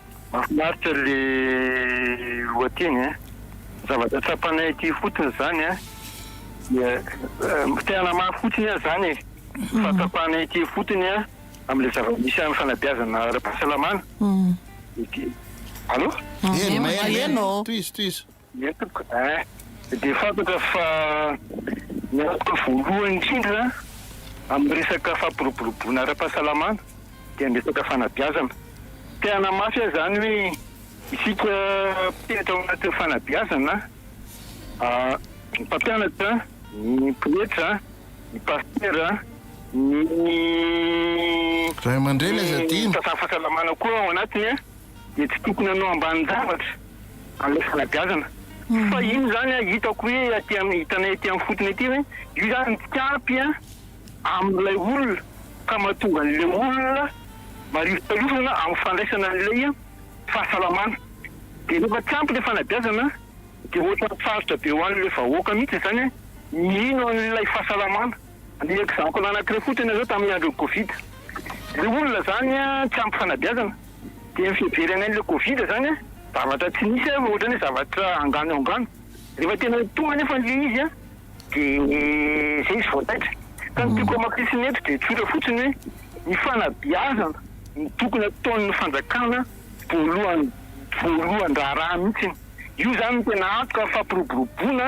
Mafinaritra le lohateny eh. Zavatra tsapanay aty fotiny zany eh. Dia te hanamafy fotsiny aho zany eh. Mhm. Fa tsapanay aty fotiny eh. Amle zava-misy any fanabeazana ara-pahasalamana. Mhm. Alo? Maheno, maheno. Tohizo, tohizo. Ie tompoko eh. Dia fantatra fa ny antoka voalohany indrindra amin'ny resaka fampiroboroboana ara-pahasalamana dia ny resaka fanabeazana. Te hanamafy aho izany hoe isika mpihatra ao anatin'ny fanabeazana, ny mpampianatra, ny pretra, ny pasitera, ny Ray aman-dreny aza adino. Ny mpitantana fahasalamana koa ao anatiny. dia tsy tokony hanao ambanin-javatra an'ilay fanabeazana. Fa iny izany hitako hoe aty amin'ny, hitanay aty amin'ny fotony aty hoe io izany midika ampy amin'ilay olona ka mahatonga an'ilay olona marivontariovana amin'ny fandraisana an'ilay fahasalamana. Dia rehefa tsy ampy ilay fanabeazana dia ohatran'ny sarotra be ho an'ilay vahoaka mihitsy izany ny hino an'ilay fahasalamana. Ny exemple anankiray fotsiny izao tamin'ny andron'ny covid, ilay olona izany tsy ampy fanabeazana. Dia ny fiheverana an'ilay covid zany an, zavatra tsy nisy an, ohatrany hoe zavatra angano eo angano. Rehefa tena ho tonga anefa an'ilay izy an, dia izay izy vao taitra. Ka ny tiako hamafisin'ny eto dia tsotra fotsiny hoe, ny fanabeazana no tokony ataon'ny fanjakana voalohan-draharaha mihitsiny. Io zany no tena antoka fampiroboroboana.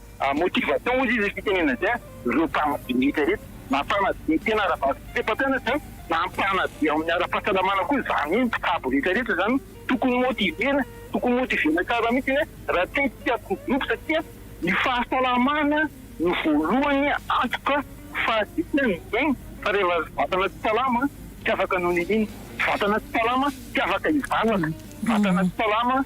Motivation ozy izy fitenena zay an! Ireo mpanabe rehetra reto na mpanabe tena ara-bato sy pepa-mpianatra an! Na mpanabe ao amin'ny ara-pahasalamana koa zany hoe mpitsabo rehetra rehetra zany tokony motiver-na! Tokony motiver-na tsara mihitsy hoe raha te tsy hatory dobo satria ny fahasalamana no voalohany antoka fahazitra ny miaina fa rehefa vatana tsy salama tsy afaka no niniana, vatana tsy salama tsy afaka hivavaka, vatana tsy salama.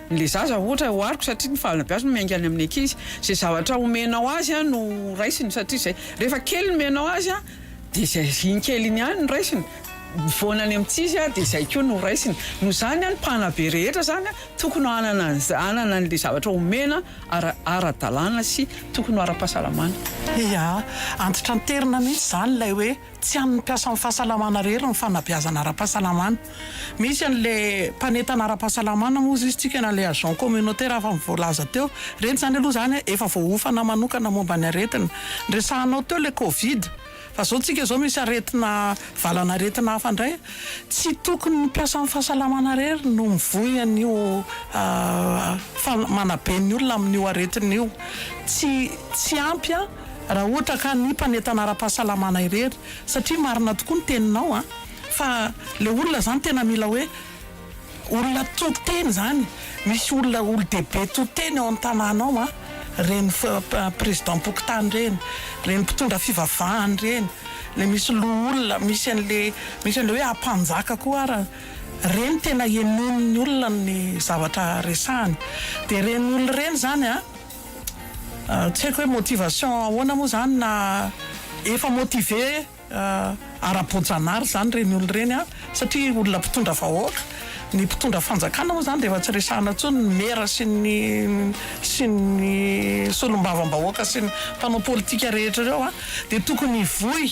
Ny le zaza ohatra ohariko satria ny fahalalana be azy no miainga any amin'ny ankizy. Izay zavatra omenao azy no raisiny satria izay rehefa kely ny omenao azy dia izay iny kely iny ihany no raisiny. Mivoana any amin'ny tsy izy dia izay koa no raisiny. Noho izany ny mpanabe rehetra izany tokony hanana hanana an'ilay zavatra omena ara ara-dalàna sy tokony ho ara-pahasalamana. Ia, antitranterina mihitsy izany ilay hoe. Tsy an'ny mpiasan'ny fahasalamana irery ny fanabeazana ara-pahasalamana. Misy an'ilay mpanentana ara-pahasalamana moa izy tsika na ilay agent communautaire afa ny voalaza teo. Ireny izany aloha izany efa voahofana manokana momba ny aretina. Niresahanao teo ilay covid. Fa izao tsika izao misy aretina valan'aretina hafa indray. Tsy tokony ny mpiasan'ny fahasalamana irery no mivoy an'io manabe ny olona amin'io aretina io. Tsy ampy an. Raha ohatra ka ny mpanentana ara-pahasalamana irery, satria marina tokoa ny teninao an, fa ilay olona izany tena mila hoe olona to-teny izany, misy olona olo-dehibe to-teny ao amin'ny tanàna ao an, ireny prezidam-pokontany ireny, ireny mpitondra fivavahana ireny, ilay misy loholona, misy an'ilay, misy an'ilay hoe ampanjaka koa ara, ireny tena henoin'ny olona ny zavatra resahany, dia ireny olona ireny izany an, Tsy haiko hoe motivation ahoana moa zany na efa motivé ara boajanahary zany reny olona reny an! satria olona mpitondra vahoaka, ny mpitondra fanjakana moa zany dia efa tsy resahana intsony, ny mera sy ny sy ny solombavambahoaka sy ny mpanao politika rehetra ireo an! dia tokony hivoy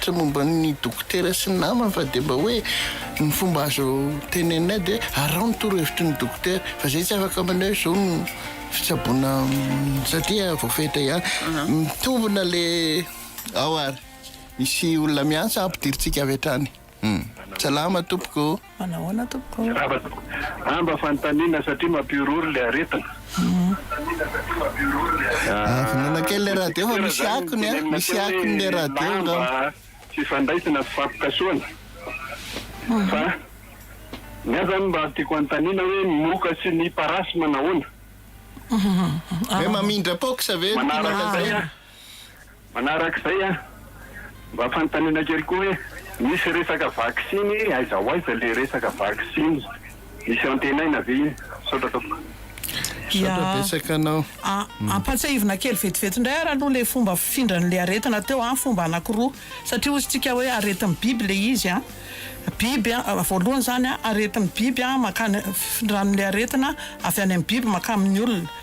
Tsy momba ny dokotera sy ny namany fa dia mba hoe ny fomba azo teneninay dia araho ny torohevitry ny dokotera fa izay tsy afaka maneho hoe izao no fitsaboana satria voafetra ihany. Mitombina le ao ary misy olona miantsa ampidirintsika avy hatrany. Salama tompoko. Manahoana tompoko. Mirava tompoko a mba fanontaniana satria mampihorohoro le aretina a. Vonona kely le radio fa misy akony a, misy akony le radio angamba. Fifandraisana fifampikasohana fa ny ahy zany mba tiako anontaniana hoe ny moka sy ny parasy manahoana. Hoe mamindra pox ve no tianao lazaina. Manarak'izay a, mba fanontaniana kely koa hoe misy resaka vaksiny aiza ho aiza le resaka vaksiny? Misy antenaina ve iny? Misaotra tompoko. Misaotra betsaka anao. Ampantsihivina kely vetivety indray ary aloha le fomba fifindran'le aretina teo an, fomba anakiroa satria hozy tsika hoe aretin'ny biby le izy an, biby an, voalohany zany an aretin'ny biby an mankany, findran'le aretina avy any amin'ny biby mankany amin'ny olona.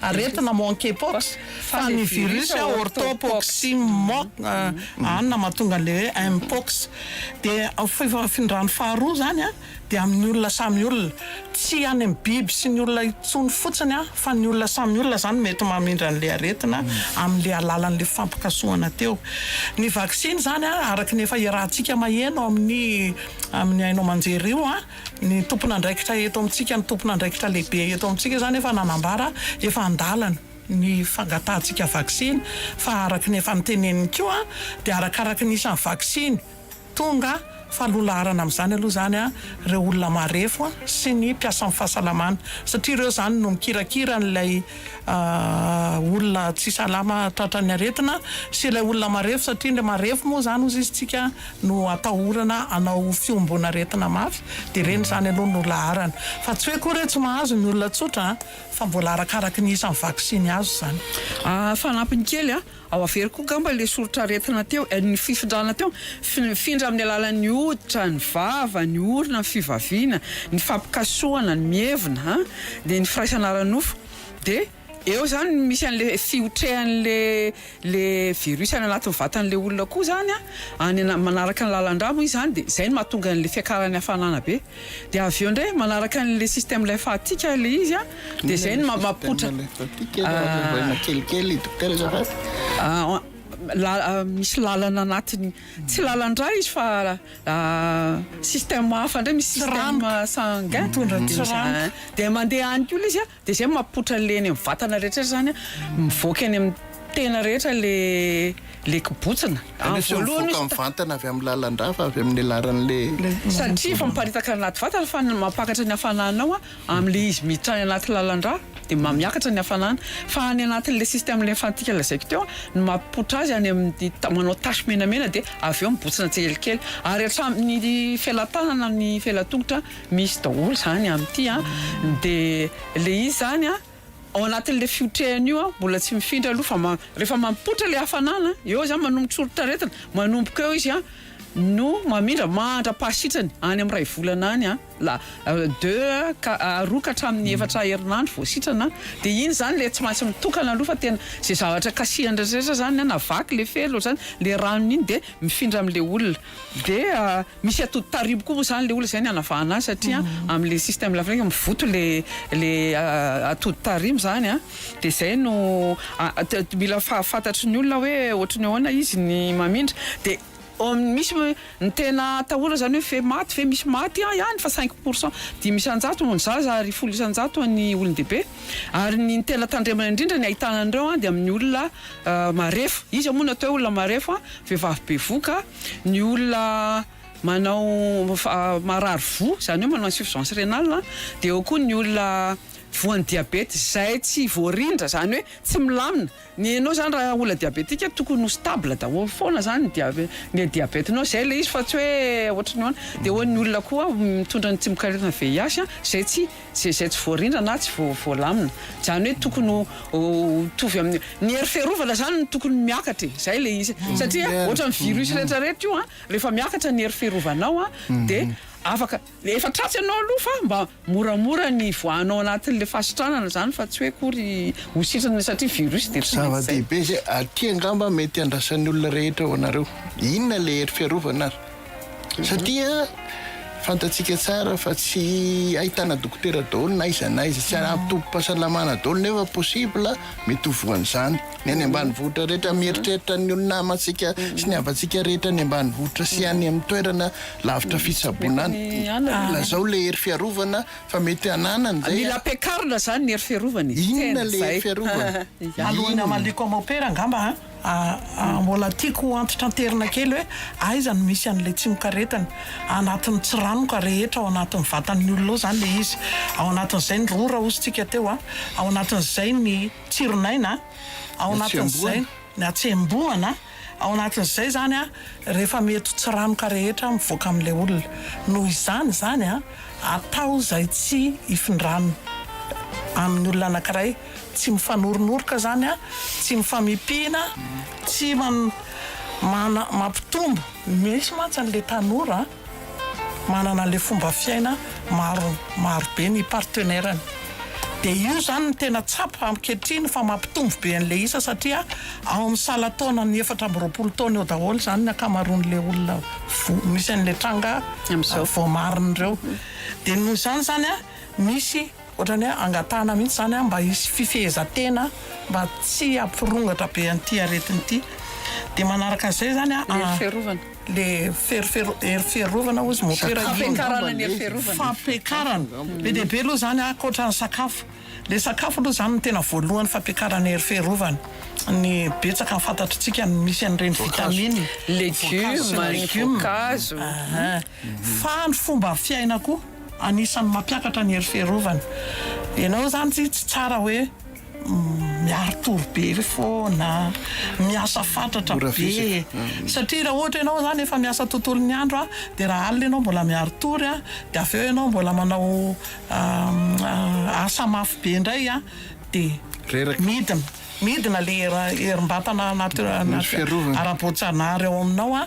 Aretina monkeypox, fa ny virus hoe orthopoxy monk an na mahatonga an'ilay hoe mpox. Dia fifindran'ny faharoa izany an, dia amin'ny olona samy olona. Tsy any amin'ny biby sy ny olona intsony fotsiny an, fa ny olona samy olona izany mety mamindra an'ilay aretina amin'ilay alalan'ilay fifampikasohana teo. Ny vaksiny izany an, araka ny efa iarahantsika maheno amin'ny amin'ny haino aman-jery io an, Ny tompon'andraikitra eto amintsika, ny tompon'andraikitra lehibe eto amintsika izany efa nanambara efa an-dalana ny fangatahantsika vaksiny fa araka ny efa noteneniny koa dia arakaraky ny isan'ny vaksiny tonga fa lolaharana amin'izany aloha izany ireo olona marefo sy ny mpiasan'ny fahasalamana satria ireo izany no mikirakira an'ilay olona tsy salama tratran'ny aretina sy ilay olona marefo satria ilay marefo moa izany hozy izy tsika no atahorana hanao fihomboan'aretina mafy dia ireny izany aloha no laharana fa tsy hoe koa re tsy mahazo ny olona tsotra an! fa mbola arakaraky ny isan'ny vaksiny azo izany. Ahh fanampiny kely an! ao averiko koa ngamba ilay soritr'aretina teo eh, ny fifindrana teo, mifindra amin'ny alalan'ny hoditra, ny vava, ny orona, ny fivaviana, ny fampikasohana, ny mievina an! dia ny firaisana ara-nofo dia. Eo izany no misy an'ilay fihotrehan'ilay ilay virus any anatin'ny vatan'ilay olona koa izany an, any ana- manaraka ny lalan-drà moa izy izany dia izay no mahatonga an'ilay fiakaran'ny hafanana be. Dia avy eo indray manaraka an'ilay système lymphatique ilay izy an, dia izay no ma- mampipoitra a- la- misy lalana anatiny, tsy lalan-drà izy fa système hafa indray, misy système sanguin, dia mandeha any koa ilay izy an, Dia izay mapotra an'ilay eny amin'ny vatana rehetra izany an, mivoaka eny amin'ny tena rehetra ilay ilay kibotsina. Any ohatra mivoaka amin'ny vantana avy amin'ny lalan-drà fa avy amin'ny alalan'ilay. Satria efa miparitaka any anaty vatana fa ny mampakatra ny hafananao an, amin'ilay izy miditra any anaty lalan-drà dia mba miakatra ny hafanana. Fa any anatin'ilay système lymphantika lazaiko teo an, ny mapotra azy any amin'ny manao tache menamena dia avy eo mibotsina tsikelikely. Ary hatramin'ny felan-tanana, ny felan-tongotra. Misy daholo zany amin'ity an! de le izy zany an! ao anatin'le fiotrehany io an! mbola tsy mifindra aloha fa rehefa mampotra le hafanana an! eo zany manomboka soritr'aretina manomboka eo izy an! no mamindra mandra-pahasitrany any amin'ny iray volana any an! la deux ka roa ka hatramin'ny efatra herinandro vao sitrana an! de iny zany le tsy maintsy mitokana aloha fa tena ze zavatra kasihany rehetra rehetra zany an! na vaky le fera ohatr'izany le ranony iny de mifindra amin'le olona de Misy atody taribo koa moa zany le olona zay ny anavahana azy satria amle système lafrika mivoto le le atody taribo zany a de zay no mila fantatry ny olona hoe ohatry ny ahoana izy ny mamindra de misy ny tena atahorana zany hoe fe maty ve misy maty ah ihany fa cinq pour cent dimy isan-jato ho ny zaza ary folo isan-jato ho an'ny olon-dehibe ary ny tena tandremana indrindra ny ahitana an'ireo a de amin'ny olona marefo iza moa no atao hoe olona marefo a vehivavy bevoka Ny olona manao marary voa, izany hoe manao insuffisance rénale a, dia eo koa ny olona voan'ny diabeta izay tsy voarindra, izany hoe tsy milamina. Ny anao izany raha olona diabetika tokony ho stable daholo foana izany ny dia- ny diabetenao, izay ilay izy fa tsy hoe ohatry ny ahoana. Dia eo ny olona koa mitondra ny tsimokaretina VIH izay tsy. Tsy izay tsy voarindra na tsy voalamina. Izany hoe tokony ho mitovy amin'ny, ny hery fiarovana izany no tokony miakatra e, izay ilay izy. Satria ohatran'ny virus rehetra rehetra io an, rehefa miakatra ny hery fiarovanao an, dia afaka, efa tratsy anao aloha fa mba moramora ny hivoahanao anatin'ilay fahasitranana izany fa tsy hoe akory ho sitrana satria virus dia tsy maintsy izay. Zava-dehibe izay, aty angamba mety andrasan'ny olona rehetra ho anareo. Inona ilay hery fiarovana ary? Satria fantatsika tsara fa tsy ahitana dokotera daholo na aiza na aiza, tsy ampy tobim-pahasalamana daholo nefa possible mety ho voan'izany ny any ambanivohitra rehetra, mieritreritra ny olona namantsika sy ny havantsika rehetra any ambanivohitra sy any amin'ny toerana lavitra fitsaboana any, lazao ilay hery fiarovana fa mety hananany izay a. Mila ampiakarina izany ny hery fiarovana e, tena izay. Inona ilay hery fiarovana? Alohan'ny hamaliako am opera angamba an? Mbola tiako ho antitranterina kely hoe aiza no misy an'ilay tsimokaretina. Anatin'ny tsiranoka rehetra ao anatin'ny vatan'ny olona ao izany ilay izy. Ao anatin'izay ny rora hozintsika teo, ao anatin'izay ny tsiron'aina, ao anatin'izay ny hatsembohana, ao anatin'izay izany rehefa mety ho tsiranoka rehetra mivoaka amin'ilay olona. Noho izany izany, atao izay tsy hifindran'ny amin'ny olona anankiray Tsy mifanornoroka zany a, tsy mifamipihina, tsy mana mampitombo. Misy mantsy an le tanora manana anle fomba fiaina maro maro be ny partenairany de io zany no tena tsapa ankehitriny fa mampitombo be anle isa satria ao am sala taona ny efatra amby roapolo taona eo daholo zany ny akamaroan le olona vo misy anle tranga voamariny reo de noho zany zany a misy Ohatrany hoe angatahana mihitsy izany mba hisy fifehezan-tena mba tsy hampirongatra be an'ity aretina ity. Dia manaraka an'izay izany an. Hery fiarovana. Ilay hery fiarovana hozy motera iny. Fampiakarana ny hery fiarovana. Fampiakarana. Be dia be aloha izany ankoatra ny sakafo. Ilay sakafo aloha izany no tena voalohany fampiakarana ny hery fiarovana. Ny betsaka ny fantatritsika ny misy an'ireny vitamine. Voankazo sy ny legioma. Voankazo sy ny legioma. Fahandro fomba fiaina koa anisan'ny mampiakatra ny hery fiarovana. Ianao izany tsy tsara hoe miari-tory be foana, miasa fatratra be e. Satria raha ohatra ianao izany efa miasa tontolon'ny andro dia raha alina ianao mbola miari-tory dia avy eo ianao mbola manao asa mafy be indray dia midina. Midina ilay herim-batana ara-boajanahary ao aminao.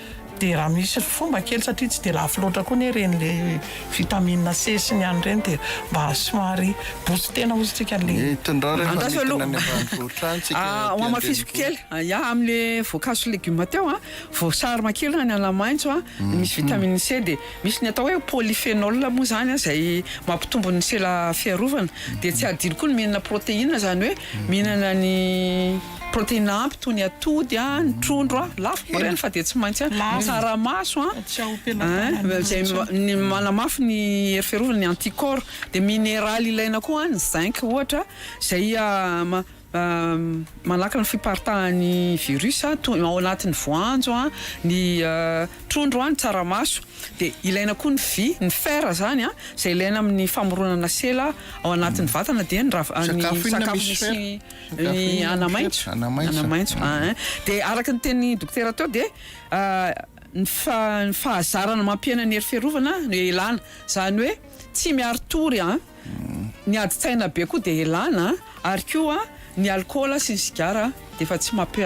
Dia raha misy fomba kely satria tsy dia lafo loatra koa anie ireny le vitamine C sy ny any ireny dia mba somary booster-na ozy tsika anle. Andraso aloha. Hamafisiko kely. Ya amle voankazo sy legume teo an, voasary makirina ny anamaintso an, misy vitamine C dia misy ny atao hoe polyphenol moa izany an izay mampitombo ny sela fiarovana. Dia tsy adino koa ny mihinana proteine izany hoe mihinana ny. Protéine ampy toy ny atody a, ny trondro a, lafo moa ireny fa dia tsy maintsy a, ny tsaramaso a, izay manamafy ny hery fiarovana, ny anticorps, dia mineraly ilaina koa ny zinc ohatra izay manakana ny fiparitahan'ny virus toy ao anatin'ny voanjo a, ny trondro a, ny tsaramaso, dia ilaina koa ny vy, ny fer izany a, izay ilaina amin'ny famoronana sela ao anatin'ny vatana dia ny sakafo misy. Ny anamaitso, anamaitso ah eh. Dia araka ny tenin'ny dokotera teo dia ny ny fahazarana mampihena ny hery fiarovana no ilana, izany hoe tsy miari-tory an, ny adin-tsaina be koa dia ilana, ary koa ny alikaola sy ny sigara dia efa tsy mampi-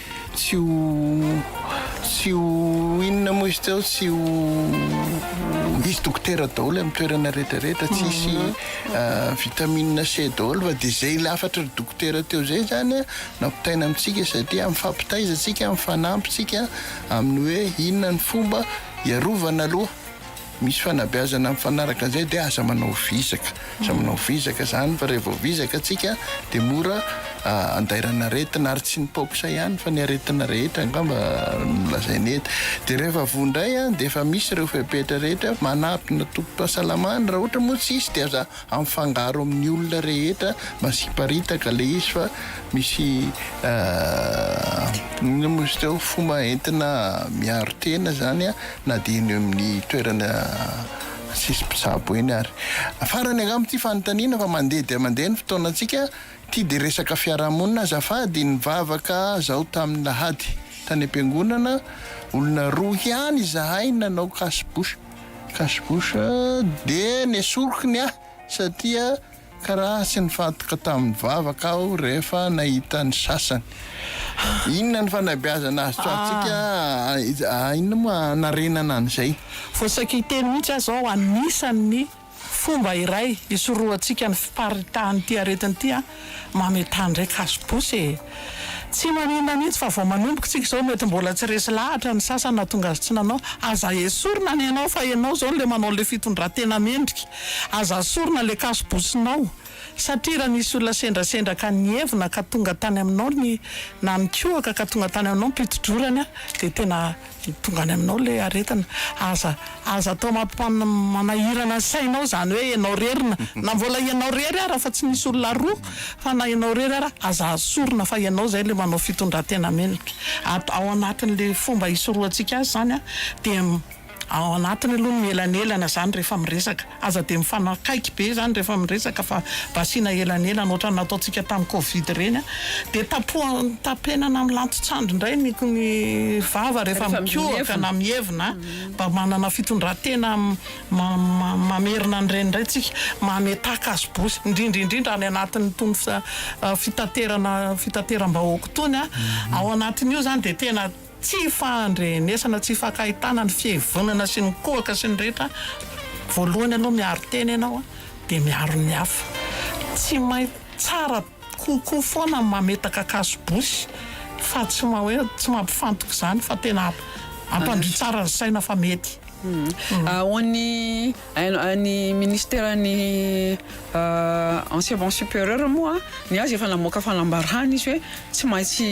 Tsy ho tsy ho inona moa izy teo tsy ho misy dokotera daholo amin'ny toerana rehetra rehetra tsy hisy vitamine C daholo fa dia izay lafatra ry dokotera teo izay izany nampitaina amintsika satria amin'ny fampitaiza antsika amin'ny fanampintsika amin'ny hoe inona ny fomba hiarovana aloha Misy fanabeazana mifanaraka an'izay dia aza manao vizaka, aza manao vizaka izany fa raha vao vizaka tsika dia mora andairana aretina ary tsy ny paoxa ihany fa ny aretina rehetra angamba no lazaina eto dia rehefa voa indray dia efa misy ireo fepetra rehetra manatona tobim-pahasalamana raha ohatra moa tsisy dia aza Amifangaro amin'ny olona rehetra masiparitaka ilay izy fa misy inona moa izy teo fomba entina miaro tena izany an, na dia eny amin'ny toerana tsisy mpitsabo eny ary. Farany angamba ity fanontaniana fa mandeha dia mandeha ny fotoanantsika, ity dia resaka fiarahamonina azafady, nivavaka zaho tamin'ny lahady tany am-piangonana, olona roa ihany izahay nanao cache bouche. Cache bouche de nesoriko ny ahy satria karaha tsy nifantoka tamin'ny vavaka aho rehefa nahita ny sasany. Inona ny fanabeazana azo tsoahantsika inona moa hanarenana an'izay? Voasaika hiteny mihitsy aho izao anisan'ny Fomba iray hisorohantsika ny fiparitahan'ity aretina ity an, mametà indray kasobosy e! Tsy maninona mihitsy fa vao manomboka isika izao mety mbola tsy resy lahatra ny sasany nahatonga azy tsy nanao, aza esorina ny anao fa ianao izao ilay manao ilay fitondran-tena mendrika, aza sorina ilay kasobosinao. Satria raha nisy olona sendrasendra ka nihevona ka tonga tany aminao ny, na nikohaka ka tonga tany aminao ny mpitodrorany an, dia tena tonga any aminao ilay aretina. Aza, aza atao mampi-manahirana ny sainao izany hoe ianao irery na, na mbola ianao irery ara fa tsy misy olona roa, fa na ianao irery ara, aza azo sorona fa ianao izay ilay manao fitondran-tena mendrika. At, ao anatin'ilay fomba hisorohantsika azy izany an, dia. Ao anatiny aloha ny mielanelana izany rehefa miresaka. Aza dia mifanakaiky be izany rehefa miresaka fa mba asiana elanelana ohatran'ny nataontsika tamin'ny covid ireny an. Dia tapohany tapenana amin'ny lantontsandry indray ny ny vava rehefa mikohaka na mievina an. Mba manana fitondratena ma ma mamerina an'ireny indray tsika. Mametaka azy bosy. Indrindra indrindra any anatin'itony fi fitaterana fitateram-bahoaka itony an. Ao anatin'io izany dia tena Tsy fahandrenesana, tsy fakahitana ny fihevonana sy ny kohaka sy ny rehetra, voalohany aloha miaro tena ianao dia miaro ny hafa, tsy main tsara kokoa foana ny mametaka kaso bosy fa tsy ma hoe tsy mampifantoka izany fa tena ampandrio tsara ny saina fa mety. Ahoan ny. Ny Ministeran'ny Enseignement Supérieur moa, ny azy efa namoaka fanambarana izy hoe tsy maintsy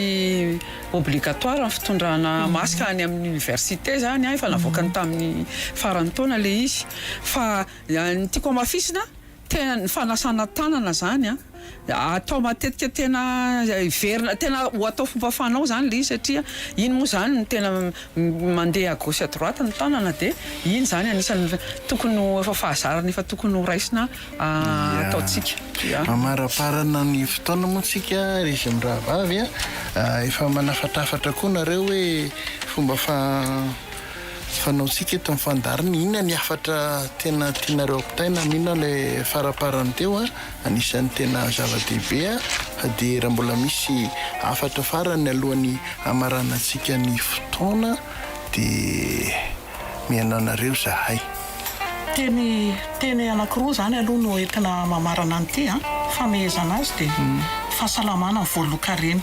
obligatoire ny fitondrana masque any amin'ny Université izany, efa navoakany tamin'ny faran'ny taona ilay izy. Fa ny tiako hamafisina, tena ny fanasana tanana izany an. Atao matetika tena hiverina tena ho atao fomba fanao zany ilay izy satria iny moa zany no tena mandeha à gauche à droite ny tanana de iny zany anisan'ny tokony ho efa fahazarana efa tokony ho raisina ataontsika. Ya. Mamaraparana ny fotoana moa tsika ry zy mirahavavy a! Efa manafatrafatra koa nareo hoe fomba fa fanaontsika eto amin'ny fandaharana inona ny hafatra tena tianareo ampitaina amin'inona ilay faraparany teo a! Anisan'ny tena zava-dehibe dia raha mbola misy hafatra farany alohan'ny hamaranantsika ny fotoana dia mihaino anareo izahay. Teny teny anankiroa izany aloha no entina mamarana an'ity an! famehezana azy dia fahasalamana voalokareny.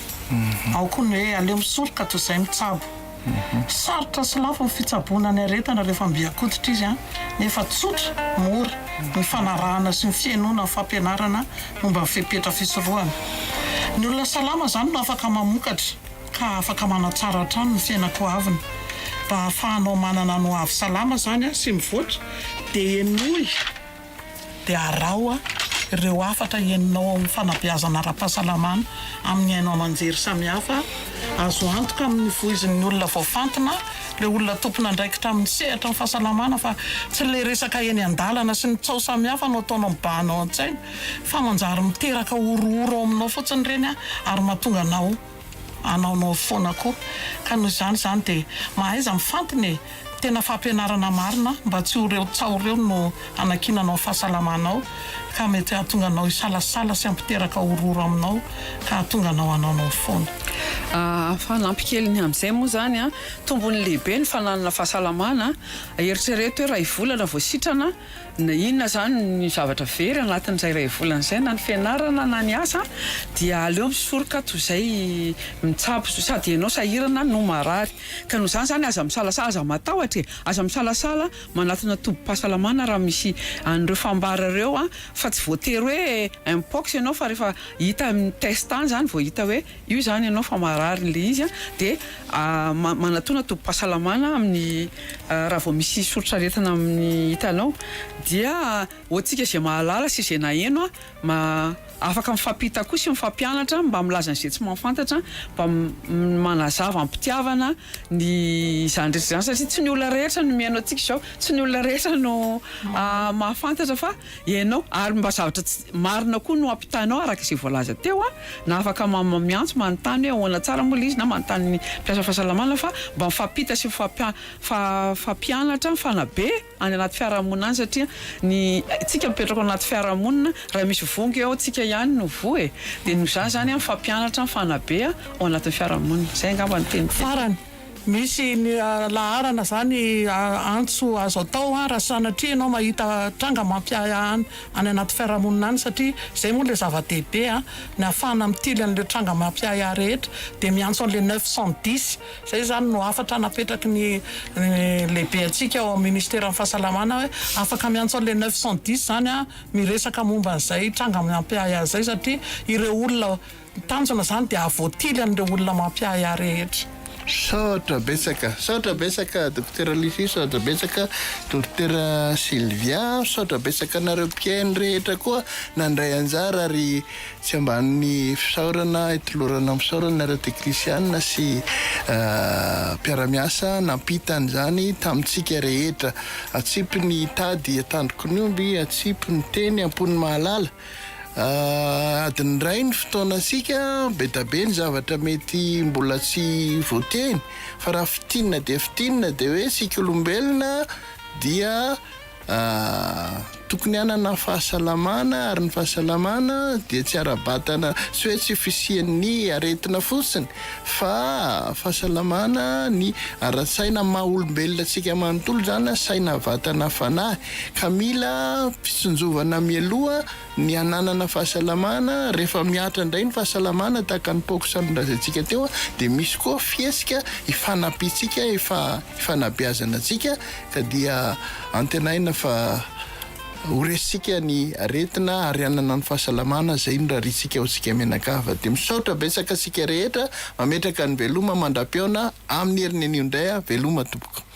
Ao koa ny hoe aleo misoroka toy izay mitsabo. Sarotra sy lafo ny fitsaboana ny aretina rehefa mbiakoditra izy nefa tsotra, mora, ny fanarahana sy ny fihainoana ny fampianarana momba ny fepetra fisorohana. Ny olona salama izany no afaka mamokatra ka afaka manatsara hatrany ny fiainako ho aviny. Mba hahafahanao manana ny ho avy salama izany sy mivoatra dia henoy. dia araho ireo hafatra henonao ao amin'ny fanabeazana ara-pahasalamana amin'ny haino aman-jery samihafa azo antoka amin'ny voizin'ny olona voafantina, ireo olona tompon'andraikitra amin'ny sehatry ny fahasalamana fa tsy ilay resaka eny an-dalana sy ny tsaho samihafa no ataonao mibahana ao an-tsaina fa manjary miteraka horohoro ao aminao fotsiny ireny ary mahatonga anao anaonao foana koa ka noho izany izany dia mahaiza mifantina e! tena fampianarana marina mba tsy ho reo tsaho reo no hanakinanao ny fahasalamanao ka mety hahatonga anao hisalasala sy hampiteraka horohoro aminao ka hahatonga anao hanaonao foana. Ahh fanampy kely ny amin'izay moa izany an! tombony lehibe ny fananana fahasalamana an! eritrereto hoe iray volana vao sitrana Na inona izany ny zavatra very anatin'izay iray volana izay, na ny fianarana na ny asa, dia aleo misoroka toy izay mitsabo, sady ianao sahirana no marary. Ka noho izany izany, aza misalasala, aza matahotra e! Aza misalasala manatona tobim-pahasalamana raha misy an'ireo fambara ireo, fa tsy voatery hoe Mpox ianao, fa rehefa hita amin'ny test any izany vao hita hoe. Io izany ianao fa marary ilay izy an, dia manatona tobim-pahasalamana amin'ny raha vao misy soritr'aretina amin'ny hitanao dia hoantsika izay mahalala sy izay naheno an, ma afaka mifampita koa sy mifampianatra mba milaza an'izay tsy mahafantatra mba manazava am-pitiavana ny izany rehetra izany satria tsy ny olona rehetra no mihaino antsika izao, tsy ny olona rehetra no mahafantatra fa. Ianao, ary mba zavatra tsy marina koa no ampitainao araka izay voalaza teo an! na afaka miantso manontany hoe ahoana tsara moa ilay izy na manontany ny mpiasa fahasalamana fa mba mifampita sy mifampianatra mifanabe any anaty fiarahamonina any satria ny tsika mipetraka ao anaty fiarahamonina raha misy vongo eo tsika ihany no voa e! dia noho izany izany an mifampianatra mifanabe ao anatin'ny fiarahamonina! izay angamba no teniko. Misy laharana izany antso azo atao raha sanatria ianao mahita tranga mampiahiahy any anaty fiarahamonina any satria izay moa ilay zava-dehibe ny hahafahana mitily an'ilay tranga mampiahiahy rehetra dia miantso an'ilay neuf cent dix izay izany no hafatra napetraky ny lehibe antsika ao amin'ny ministeran'ny fahasalamana hoe afaka miantso an'ilay neuf cent dix izany miresaka momba an'izay tranga mampiahiahy izay satria ireo olona Ny tanjona izany dia hahavoatily an'ireo olona mampiahy ahy rehetra. Misaotra betsaka, misaotra betsaka Dokotera Lisy, misaotra betsaka Dokotera Sylvia, misaotra betsaka anareo mpihaino rehetra koa nandray anjara ary tsy ambanin'ny fisaorana itolorana amin'ny fisaorana ireo teknisiana sy mpiara-miasa nampita an'izany tamintsika rehetra. Atsipy ny tady an-tandrokin'omby, atsipy ny teny am-pon'ny mahalala. Adiny iray ny fotoanantsika, be da be ny zavatra mety mbola tsy voateny fa raha fintinina dia fintinina dia hoe isika olombelona dia tokony hanana fahasalamana ary ny fahasalamana dia tsy ara-batana tsy hoe tsy fisian'ny aretina fotsiny fa fahasalamana ny ara-tsaina maha olombelona antsika manontolo izany saina vatana fanahy. ka mila fitsinjovana mialoha ny hananana fahasalamana, rehefa mihatra indray ny fahasalamana tahaka ny paox nolazaintsika teo dia misy koa fihetsika hifanampiantsika, hifanabeazana antsika ka dia antenaina fa ho resintsika ny aretina ary hanana ny fahasalamana izay norariantsika ho antsika mianakavy, dia misaotra betsaka antsika rehetra, mametraka ny veloma mandram-pihaona amin'ny herin'anio indray aho, veloma tompoko.